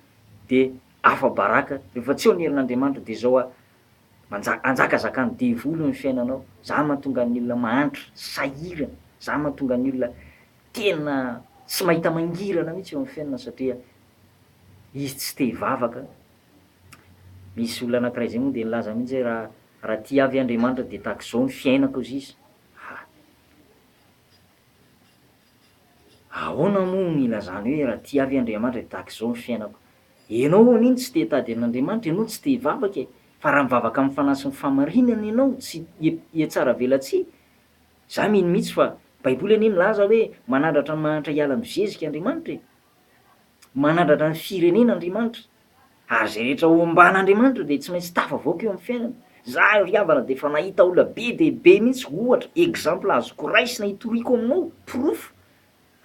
dia afa-baraka, rehefa tsy ao ny herin'Andriamanitra dia izao an, manjaka, anjakazakan'ny devoly ny fiainanao. Izany mahatonga ny olona mahantra, sahirana, izany mahatonga ny olona tena tsy mahita mangirana mihitsy eo amin'ny fiainana satria. Izy tsy te hivavaka. Misy olona anakiray zay moa dia nilaza mihitsy hoe raha raha tia ahy ve Andriamanitra dia tahaka izao ny fiainako hozy izy. Ha! Ahoana moa no ilazany hoe raha tia ahy ve Andriamanitra dia tahaka izao ny fiainako. Ianao anie no tsy te hitady an'Andriamanitra, ianao no tsy te hivavaka e. Fa raha mivavaka amin'ny fanahy sy ny fahamarinana ianao, tsy hihatsaravelatsihy. Za mino mihitsy fa Baiboly anie milaza hoe manandratra ny mahantra hiala amin'ny zezika Andriamanitra e. Manandratra ny firenena Andriamanitra, ary izay rehetra omban'Andriamanitra dia tsy maintsy tafavoaka eo amin'ny fiainany. Za ry havana dia efa nahita olona be dia be mihitsy ohatra, exemple azoko raisina hitoriako aminao, porofo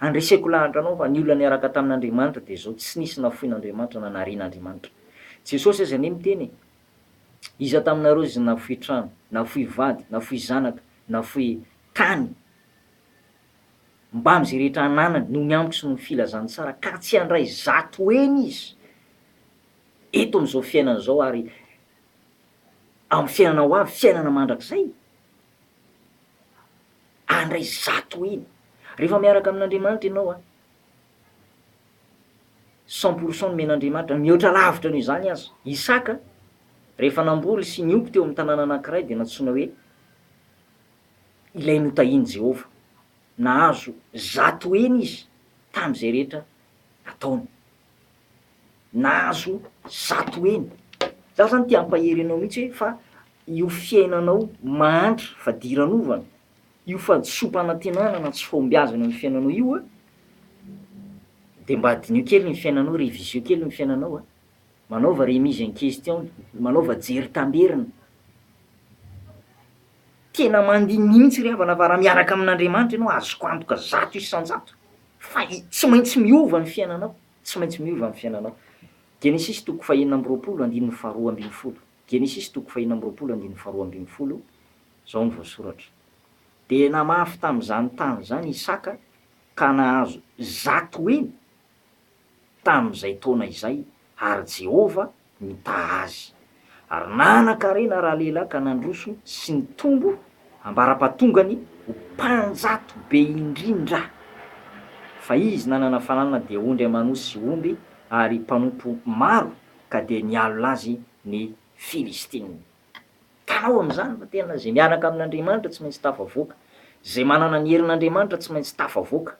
handreseko lahatra anao fa ny olona niaraka tamin'Andriamanitra dia zao tsy nisy nafoin'Andriamanitra na narian'Andriamanitra. Jesosy aza anie miteny e, iza taminareo izy nafoy trano, nafoy vady, nafoy zanaka, nafoy tany, mbamin'izay rehetra ananany noho ny amiko sy noho ny filazany tsara ka tsy handray zato heny izy eto amin'izao fiainana izao ary amin'ny fiainana ho avy, fiainana mandrakizay, handray zato heny. Rehefa miaraka amin'Andriamanitra ianao an, cent pour cent nomen'Andriamanitra, mihoatra lavitra noho izany aza. Isaka, rehefa namboly sy nioko teo amin'ny tanàna anankiray dia nantsoina hoe ilay notahian'i Jehovah. Nahazo zato heny izy tamin'izay rehetra nataony. Nahazo zato heny. Izaho izany te hampahery anao mihitsy hoe fa io fiainanao mahantra fadiranovana, io fahadisoam-panantenana na tsy fahombiazana amin'ny fiainanao io, dia mba diniho kely ny fiainanao, revisio kely ny fiainanao a! Manaova remise en question, manaova jery tamberina. Tena mandiniha mihitsy ry havana fa raha miaraka amin'Andriamanitra ianao, azoko antoka zato isan-jato fa tsy maintsy miova ny fiainanao, tsy maintsy miova ny fiainanao. Genesisy toko fahenina amby roapolo andininy faharoa ambin'ny folo, Genesisy toko fahenina amby roapolo andininy faharoa ambin'ny folo, izao no voasoratra, Dia namafy tamin'izany tany izany Isaka ka nahazo zato heny, tamin'izay taona izay, ary Jehovah nitaha azy. Ary nanan-karena ralehilahy ka nandroso sy nitombo ambara-pahatongany ho mpanjato be indrindra. Fa izy nanana fananana dia ondry aman'osy sy omby ary mpanompo maro ka dia nialona azy ny Filistina. Hitanao amin'izany fa tena izay miaraka amin'Andriamanitra tsy maintsy tafavoaka, izay manana ny herin'Andriamanitra tsy maintsy tafavoaka.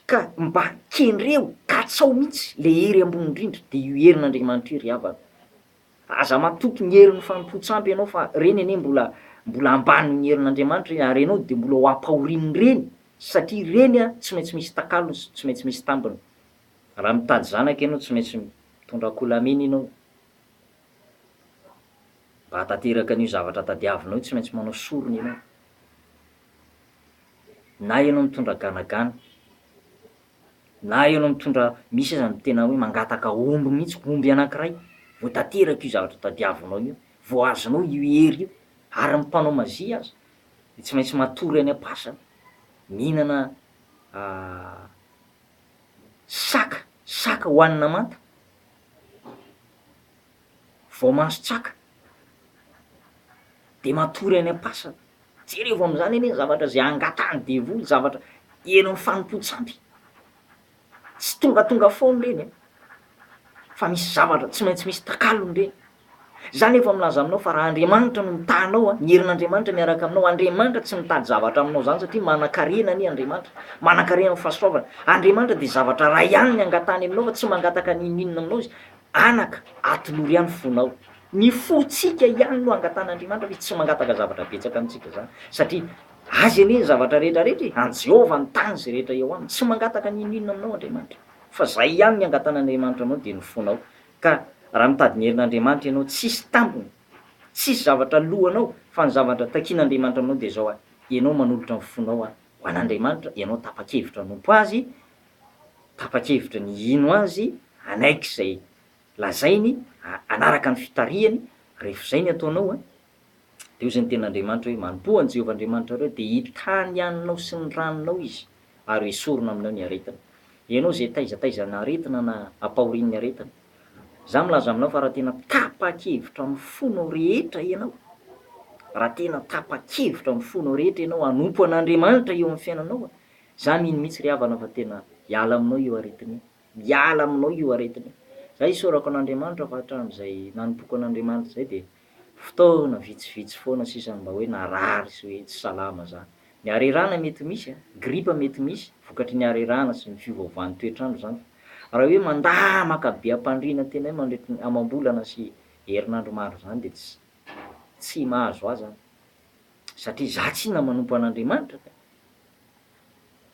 Ka mba kendreo, katsao mihitsy le hery ambony indrindra, de io herin'Andriamanitra io ry havana. Aza matoky ny herin'ny fanompoan-tsampy ianao fa reny anie mbola mbola ambanin'ny herin'Andriamanitra reny, ary ianao de mbola ho ampahorin'ny reny satria reny a tsy maintsy misy takalony sy tsy maintsy misy tambiny. Raha mitady zanaka ianao tsy maintsy mitondra akolamena ianao. Mba hahatanteraka an'io zavatra tadiavinao io tsy maintsy manao sorona ianao. na ianao mitondra ganagana, na ianao mitondra misy aza ny tena hoe mangataka omby mihitsy, omby anankiray vao tanteraka io zavatra tadiavinao io, vao azonao io hery io, ary ny mpanao magie aza dia tsy maintsy matory any am-pasana, mihinana saka, saka hohanina manta. vao mason-tsaka dia matory any am-pasana, jerevo amin'izany anie ny zavatra izay angatahan'ny devoly, zavatra heno amin'ny fanompoan-tsampy, tsy tongatonga foana ireny an, fa misy zavatra tsy maintsy misy takalony ireny, izaho anefa milaza aminao fa raha Andriamanitra no mitaha anao an, ny herin'Andriamanitra miaraka aminao, Andriamanitra tsy mitady zavatra aminao izany satria manan-karena anie Andriamanitra, manan-karena amin'ny fahasoavana, Andriamanitra dia zavatra iray ihany ny angatahany aminao fa tsy mangataka n'inon'inona aminao Izy, Anaka, atinoro ihany fonao. Ny fontsika ihany no angatan'Andriamanitra, fa izy tsy mangataka zavatra betsaka amintsika izany, satria Azy anie ny zavatra rehetra rehetra e! An'i Jehovah ny tany sy rehetra eo aminy. Tsy mangataka ny inon'inona aminao Andriamanitra, fa izay ihany ny angatan'Andriamanitra aminao dia ny fonao. Ka raha mitady ny herin'Andriamanitra ianao, tsy hisy tambiny, tsy hisy zavatra loanao, fa ny zavatra takian'Andriamanitra aminao dia izao, Ianao manolotra ny fonao ho an'Andriamanitra, ianao tapa-kevitra hanompo Azy, tapa-kevitra ny hino azy hanaiky izay lazainy hanaraka ny fitarihany rehefa izay ny ataonao a dia hoy izay ny tenin'Andriamanitra hoe manompoa an'i Jehovah Andriamanitrareo dia hitaha ny haninao sy ny ranonao izy ary hoesorina aminao ny aretina ianao izay taiza taiza na aretina na ampahorian'ny aretina izaho milaza aminao fa raha tena tapa-kevitra amin'ny fonao rehetra ianao raha tena tapa-kevitra amin'ny fonao rehetra ianao hanompo an'Andriamanitra eo amin'ny fiainanao a Za mino mitsy ry havana fa tena hiala aminao io aretina io, miala aminao io aretina io. Za isaorako an'Andriamanitra fa hatramin'izay nanompoako an'Andriamanitra izay dia fotoana vitsivitsy foana sisa no mba hoe narary sy hoe tsy salama za. Ny harerahana mety misy a, gripa mety misy vokatry ny harerahana sy ny fiovaovan'ny toetr'andro zany fa raha hoe mandà maka be am-pandriana tena hoe mandritry ny amam-bolana sy herinandro maro zany dia tsy tsy mahazo azy an. satria za tsy na manompo an'Andriamanitra ka.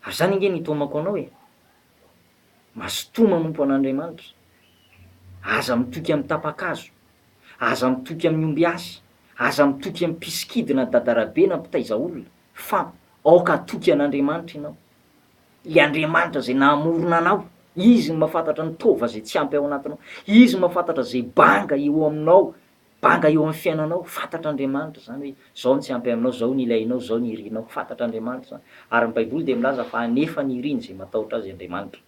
Ary zany ange no itaomako anao e, mazotoa manompo an'Andriamanitra, aza mitoky amin'ny tapa-kazo, aza mitoky amin'ny ombiasy, aza mitoky amin'ny mpisikidy na dadarabe na mpitaiza olona, fa aoka hatoky an'Andriamanitra ianao, le Andriamanitra zay nahamorona anao, izy no mahafantatra ny taova zay tsy ampy ao anatinao, izy no mahafantatra zay banga eo aminao Banga eo amin'ny fiainanao, fantatr'Andriamanitra izany hoe izao ny tsy ampy aminao, izao ny ilainao, izao ny irinao. Fantatr'Andriamanitra izany. Ary ny Baiboly dia milaza fa hanefa ny iriny izay matahotra Azy Andriamanitra.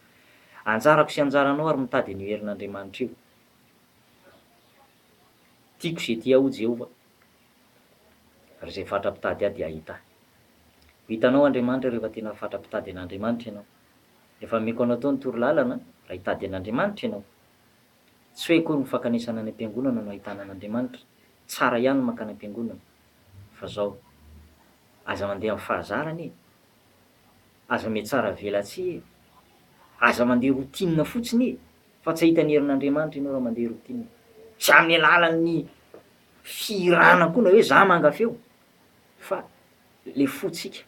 Anjarako sy anjaranao àry mitady an'io herin'Andriamanitra io. Tiako izay tia ahy, hoy Jehovah, ary izay fatra-pitady ahy dia hahita ahy. Ho hitanao Andriamanitra rehefa tena fatra-pitady an'Andriamanitra ianao. Efa nomeko anao tao ny torolalana raha hitady an'Andriamanitra ianao. Tsy hoe akory ny fankanesana any am-piangonana no ahitana an'Andriamanitra, tsara ihany ny mankany am-piangonana, fa zao, aza mandeha amin'ny fahazarana e! Aza mihatsara velatsihy e! Aza mandeha routine fotsiny e! Fa tsy hahita ny herin'Andriamanitra ianao raha mandeha routine. Tsy amin'ny alalan'ny fihirana koa na hoe za manga feo, fa le fotsika,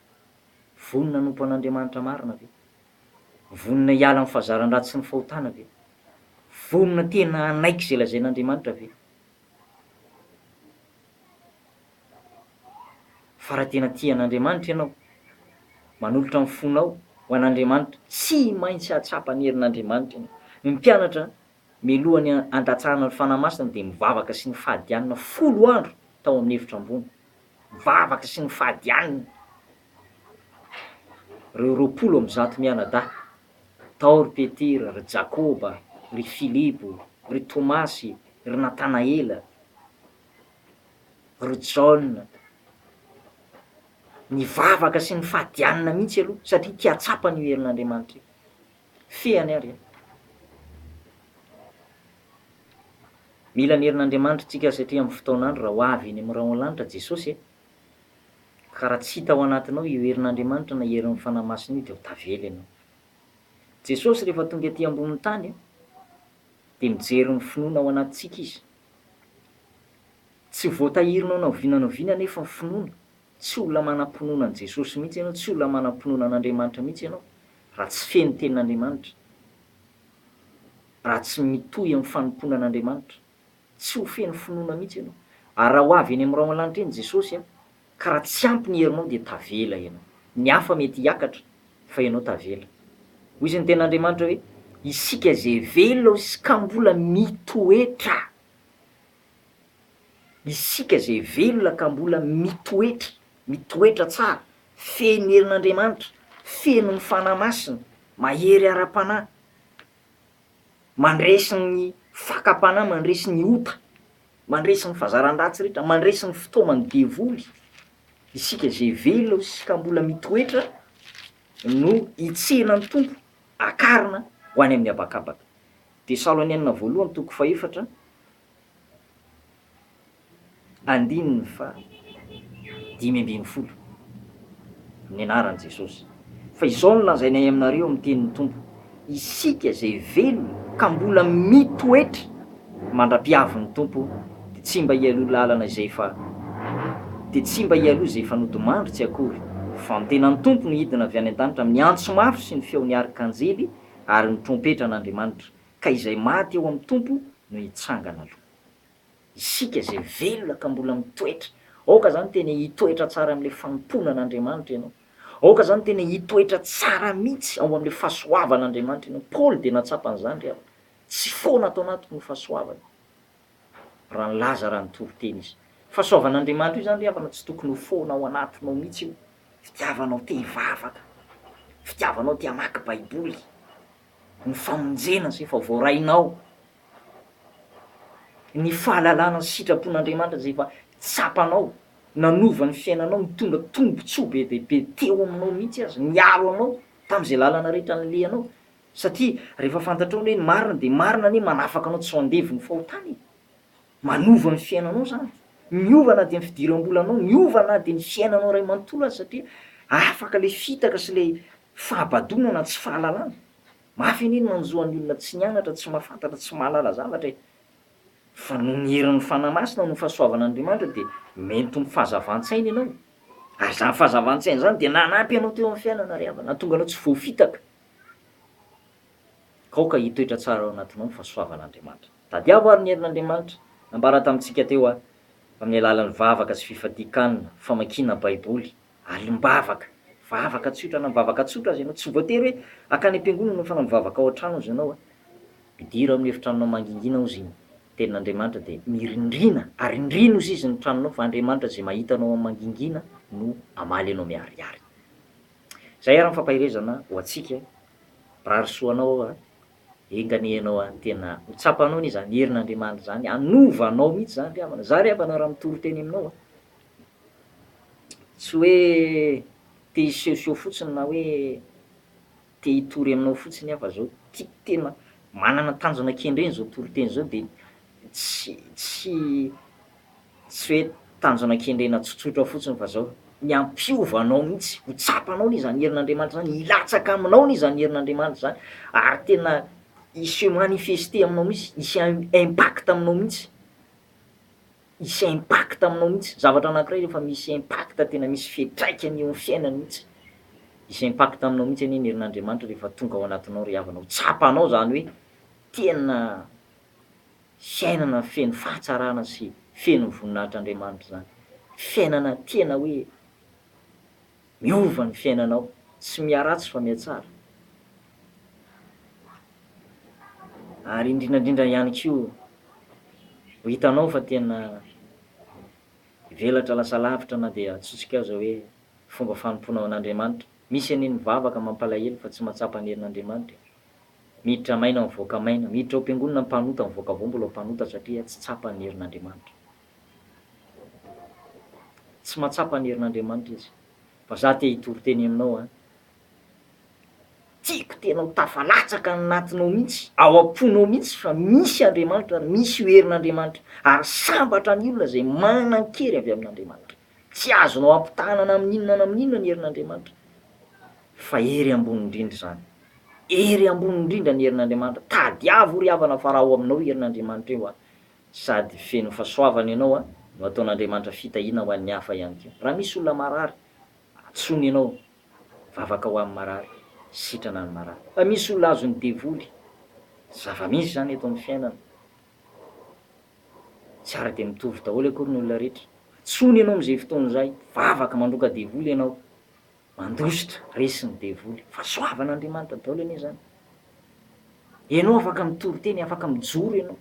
vonona hanompo an'Andriamanitra marina ve? Vonona hiala amin'ny fahazaran-dratsy sy ny fahotana ve? Vonona tena hanaiky izay lazain'Andriamanitra ve? Fa raha tena tia an'Andriamanitra ianao, manolotra ny fonao ho an'Andriamanitra, tsy maintsy hahatsapa ny herin'Andriamanitra ianao. Ny mpianatra Mialohan'ny handatsahana ny Fanahy Masina dia nivavaka sy nifadianina folo andro tao amin'ny efitra ambony. Nivavaka sy nifadianina ireo roapolo amby zato mianadahy, tao ry Petera, ry Jakoba, ry Filipo, ry Tomasy, ry Natanaela, ry Jaona. Nivavaka sy nifadianina mihitsy aloha satria te hahatsapa an'io herin'Andriamanitra io. Fehiny ary an! Mila ny herin'Andriamanitra tsika satria amin'ny fotoan'andro raha ho avy eny amin'ny rahona lanitra Jesosy e! Ka raha tsy hita ao anatinao io herin'Andriamanitra na herin'ny Fanahy Masina io dia ho tavela ianao. Jesosy rehefa tonga aty ambonin'ny tany an! dia mijery ny finoana ao anatintsika Izy. Tsy voatahirinao na oviana na oviana anefa ny finoana Tsy olona manam-pinoana an'i Jesosy mihitsy ianao, tsy olona manam-pinoana an'Andriamanitra mihitsy ianao, raha tsy feno tenin'Andriamanitra, raha tsy mitohy amin'ny fanompoana an'Andriamanitra. Tsy ho feno finoana mihitsy ianao. Ary raha ho avy eny amin'ny rahona lanitra eny Jesosy, ka raha tsy ampy ny herinao dia tavela ianao. Ny hafa mety hiakatra, fa ianao tavela. Hoy ny tenin'Andriamanitra hoe, Isika izay velona hoy Izy ka mbola mitoetra. Isika izay velona ka mbola mitoetra, mitoetra tsara, feno herin'Andriamanitra, feno ny Fanahy Masina, mahery ara-panahy, mandresy ny fakam-panahy, mandresy ny ota, mandresy ny fazaran-dratsy rehetra, mandresy ny fitaoman'ny devoly, isika izay velona sy ka mbola mitoetra no hitsenan'ny Tompo, hakarina ho any amin'ny habakabaka. Tesalonianina Voalohany toko fahefatra andininy fahadimy ambin'ny folo Ny anaran'i Jesosy, fa izao no lazainay aminareo amin'ny tenin'ny Tompo, isika izay velona ka mbola mitoetra mandra-piavin'ny Tompo dia tsy mba hialoha lalana izay efa dia tsy mba hialoha izay efa nodimandry tsy akory, fa ny tenan'ny Tompo no hidina avy any an-danitra amin'ny antso mafy sy ny feon'ny arkanjely Ary ny trompetra an'Andriamanitra, ka izay maty eo amin'ny Tompo no hitsangana aloha. Isika izay velona ka mbola mitoetra, aoka izany tena hitoetra tsara amin'ilay fanompoana an'Andriamanitra ianao. Aoka izany tena hitoetra tsara mihitsy ao amin'ilay fahasoavan'Andriamanitra ianao. Paoly dia natsapa an'izany ry havana. Tsy foana ato anatiko ny fahasoavany. raha nilaza raha nitory teny izy. Fahasoavan'Andriamanitra io izany ry havana tsy tokony ho foana ao anatinao mihitsy io. Fitiavanao te hivavaka, fitiavanao te hamaky baiboly, ny famonjena izay efa voarainao, ny fahalalana ny sitrapon'Andriamanitra izay efa tsapanao, nanova ny fiainanao, nitondra tombontsoa be dia be teo aminao mihitsy aza, niaro anao tamin'izay lalana rehetra nalehanao. Satria rehefa fantatrao ny hoe ny marina dia marina anie manafaka anao tsy ho andevo ny fahotana e! Manova ny fiainanao zany. Miova na dia ny fidiram-bolanao, miova na dia ny fiainanao iray manontolo aza satria afaka ilay fitaka sy ilay fahabadoana na tsy fahalalana. Mafy anie ny manjo an'ny olona tsy nianatra, tsy mahafantatra, tsy mahalala zavatra e! Fa noho ny herin'ny Fanahy Masina, noho ny fahasoavan'Andriamanitra dia mento ny fahazavan-tsaina ianao. Ary izany fahazavan-tsaina izany dia nanampy anao teo amin'ny fiainana ry havana, nahatonga anao tsy voafitaka. Aoka hitoetra tsara ao anatinao ny fahasoavan'Andriamanitra. Tadiavo àry ny herin'Andriamanitra nambara tamintsika teo aho, amin'ny alalan'ny vavaka sy fifadian-kanina, famakiana Baiboly, alim-bavaka. Vavaka tsotra na mivavaka tsotra aza ianao. Tsy voatery hoe hankany am-piangonana ianao fa na mivavaka ao an-trano aza ianao. Midira ao amin'ny efitranonao mangingina ao izy iny, ny Tenin'Andriamanitra, dia mirindrina, arindrino izy izy ny tranonao, fa Andriamanitra izay mahita anao amin'ny mangingina no hamaly anao miharihary. Zay ary ny fampaherezana ho antsika, mirary soa anao aho a, enga anie ianao a, tena ho tsapanao anie zany herin'Andriamanitra zany, hanova anao mihitsy zany ry havana, za ry havana raha mitory teny aminao a, tsy hoe te hisehoseho fotsiny na hoe te hitory aminao fotsiny aho fa zao tiako tena manana tanjona kendreny zao toriteny zao de tsy tsy Tsy hoe tanjona kendrena tsotsotra fotsiny fa zao, ny hampiova anao mihitsy, ho tsapanao anie zany herin'Andriamanitra zany, hilatsaka aminao anie zany herin'Andriamanitra zany ary tena hi se manifester aminao mihitsy, hisy impact aminao mihitsy, hisy impact aminao mihitsy, zavatra anakiray rehefa misy impact tena misy fiatraikany eo amin'ny fiainany mihitsy, hisy impact aminao mihitsy anie ny herin'Andriamanitra rehefa tonga ao anatinao ry havana, ho tsapanao zany hoe tena fiainana feno fahatsarana sy feno voninahitr'Andriamanitra izany. Fiainana tena hoe miova ny fiainanao, tsy miharatsy fa mihatsara. Ary indrindrandrindra ihany koa, ho hitanao fa tena hivelatra lasa lavitra na dia atsotsikao izao hoe fomba fanompoana ho an'Andriamanitra. Misy anie ny mivavaka mampalahelo fa tsy mahatsapa ny herin'Andriamanitra e! Miditra maina mivoaka maina. Miditra ao am-piangonana mpanota mivoaka vao mbola mpanota satria tsy tsapa ny herin'Andriamanitra. Tsy mahatsapa ny herin'Andriamanitra izy. Fa za te hitory teny aminao an. Tiako tena ho tafalatsaka any anatinao mihitsy, ao am-ponao mihitsy fa misy Andriamanitra ary misy io herin'Andriamanitra io. Ary sambatra ny olona izay manan-kery avy amin'Andriamanitra. Tsy azonao ampitahana na amin' inona na amin' inona ny herin' Andriamanitra, fa hery ambony indrindra izany. Hery ambony indrindra ny herin' Andriamanitra. Tadiavo ry havana fa raha ao aminao herin' Andriamanitra io an, sady feno fahasoavana ianao an, no hataon' Andriamanitra fitahiana ho an' ny hafa ihany koa. Raha misy olona marary, antsoiny ianao, vavaka ho an' ny marary, sitrana ny marary. Raha misy olona azon' ny devoly, zava-misy izany eto amin' ny fiainana, Tsara dia mitovy daholo akory ny olona rehetra. Antsoina ianao amin'izay fotoana izay, vavaka mandroaka devoly ianao, mandositra, resy ny devoly. Fahasoavan'Andriamanitra daholo anie izany. Ianao afaka mitory teny, afaka mijoro ianao,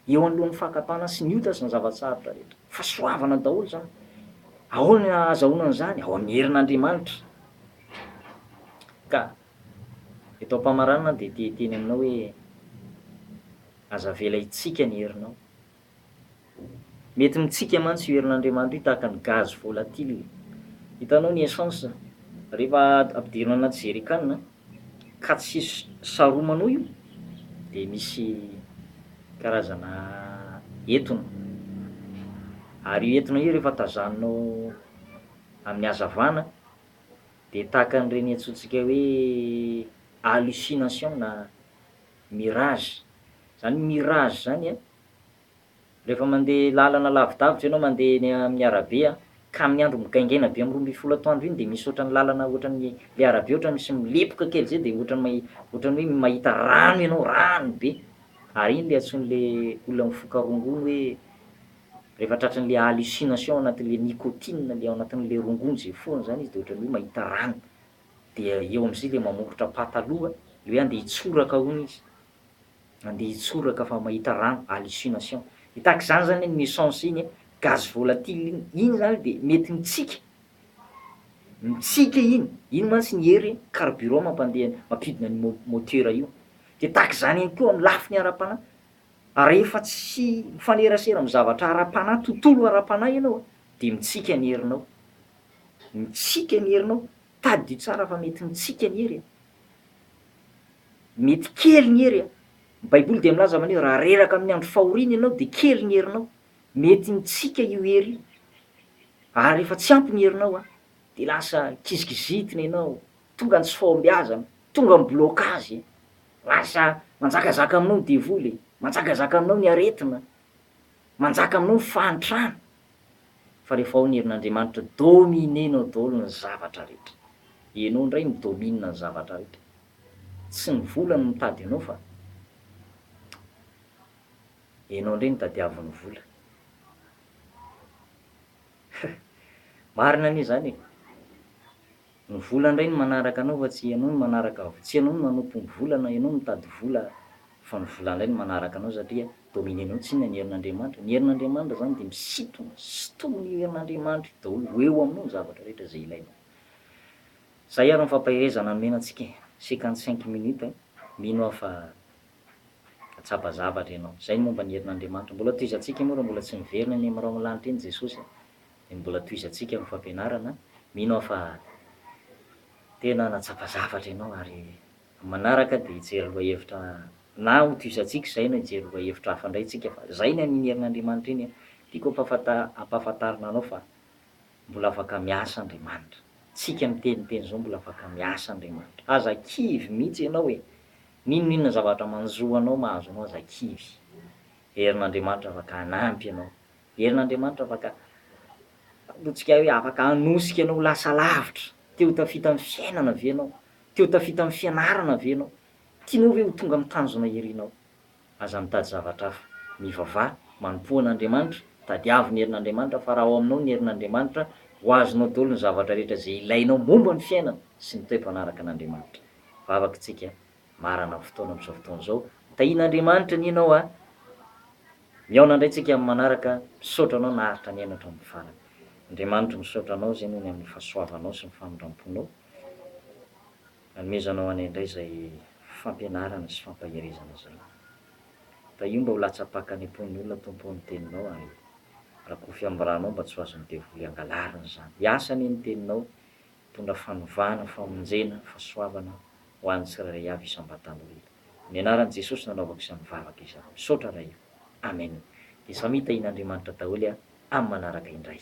eo anoloan'ny fakam-panahy sy ny ota sy ny zava-tsarotra rehetra. Fahasoavana daholo izany. Ahoana no ahazahoana an'izany? Ao amin'ny herin'Andriamanitra. Ka Eto am-pamaranana aho dia te hiteny aminao hoe, Aza avela hitsiaka ny herinao. Mety mitsiaka mantsy io herin'Andriamanitra io tahaka ny gaz volatile. Hitanao ny essence, rehefa ampidirina anaty jerrycan ka tsy saromanao io dia misy karazana etona. Ary io etona io rehefa tazaninao amin'ny hazavana Dia tahaka an'ireny antsointsika hoe hallucination na mirage. Izany mirage izany a, rehefa mandeha lalana lavidavitra ianao, mandeha eny amin'ny arabe a, ka amin'ny andro migaingaina be amin'ny roa ambin'ny folo atoandro iny dia misy ohatran'ny lalana ohatran'ny ilay arabe ohatran'ny misy milepoka kely izay dia ohatran'ny mahi- ohatran'ny hoe mahita rano ianao, rano be. Ary iny ilay antsoin'ilay olona mifoka rongony hoe Rehefa tratran'le hallucination ao anatin'le nicotine le ao anatin'le rongony ze fohany zany izy de ohatran'ny hoe mahita rano de eo am'zay le mamoritra pataloha le hoe andeha hitsoraka hono izy, andeha hitsoraka fa mahita rano, hallucination. De tahak'izany zany ny essence iny a, gaz volatile iny, iny zany de mety mitsika, mitsika iny, iny mantsy ny hery carburant mampandeha mampiodina an'io mo- moteur io. De tahak'izany ihany koa am'lafiny ara-panahy, Rehefa tsy mifanerasera amin'ny zavatra ara-panahy, tontolo ara-panahy ianao dia mitsiky ny herinao. Mitsiky ny herinao. Tadidio tsara fa mety mitsiky ny hery e. Mety kely ny hery e. Ny Baiboly dia milaza man'io, raha reraka amin'ny andro fahoriana ianao dia kely ny herinao. Mety mitsiky io hery io. Ary rehefa tsy ampy ny herinao dia lasa kizikizitina ianao, Tonga ny tsy fahombiazana, tonga ny blocage, lasa manjakazaka aminao ny devoly e, manjakazaka aminao ny aretina, manjaka aminao ny fahantrana, fa rehefa ao ny herin'Andriamanitra, dominenao daholo ny zavatra rehetra, ianao indray mi domine ny zavatra rehetra, tsy ny vola no mitady anao fa ianao indray no tadiavin'ny vola, marina anie zany e! Ny vola ndray no manaraka anao fa tsy ianao no manaraka tsy ianao no manompompo vola na ianao no mitady vola fa ny vola ndray no manaraka anao satria domine anao tsy inona ny herin'Andriamanitra ny herin'Andriamanitra zany dia misintona sintomin'io herin'Andriamanitra io daholo ho eo aminao ny zavatra rehetra izay ilainao zay ary ny fampaherezana nomena antsika e cinquante cinq minutes a mino aho fa tsapa zavatra ianao zay ny momba ny herin'Andriamanitra mbola tohizantsika moa raha mbola tsy miverina eny amin'irao lanitra eny Jesosy a. Ny mbola tohizantsika amin'ny fampianarana, mino aho fa tena nahatsapa zavatra ianao ary amin'ny manaraka dia hijery lohahevitra na ho tohizantsika izay na hijery lohahevitra hafa indray isika fa izay ny an'ny herin'Andriamanitra iny an! Tiako hampahafantarina anao fa mbola afaka miasa Andriamanitra. Tsika miteniteny izao mbola afaka miasa Andriamanitra. Aza kivy mihitsy ianao e! N'inon'inona zavatra manjo anao mahazo anao aza kivy. Herin'Andriamanitra afaka hanampy ianao. Herin'Andriamanitra afaka Ataontsika hoe afaka hanosika anao ho lasa lavitra. Te ho tafita amin'ny fiainana ve ianao? Te ho tafita amin'ny fianarana ve ianao? Tianao ve ho tonga amin'ny tanjona irinao? Aza mitady zavatra hafa. Mivavaha, manompoa an'Andriamanitra, tadiavo ny herin'Andriamanitra fa raha ao aminao ny herin'Andriamanitra, ho azonao daholo ny zavatra rehetra izay ilainao momba ny fiainana sy ny toe-panaraka an'Andriamanitra. Vavaka isika. Marana ny fotoana amin'izao fotoana izao. Tahian'Andriamanitra anie ianao a! Mihaona indray tsika amin'ny manaraka, misaotra anao naharitra nihaino hatramin'ny farany. Andriamanitra misaotra anao izay nony amin'ny fahasoavanao sy ny famindramponao. Anomezanao anay indray izay fampianarana sy fampaherezana izay. Tahio mba ho latsa-paka any am-pon'ny olona Tompo o ny teninao ary rakofy amin'ny ranao mba tsy ho azon'ny devoly angalarina izany. Hiasa anie ny teninao Mitondra fanovana, famonjena, fahasoavana ho an'ny tsirairay avy isam-batana hoe Amin'ny anaran'i Jesosy no anaovako izany vavaka izany. Misaotra Ray o. Amen. Dia samy hitahian'Andriamanitra daholo amin'ny manaraka indray.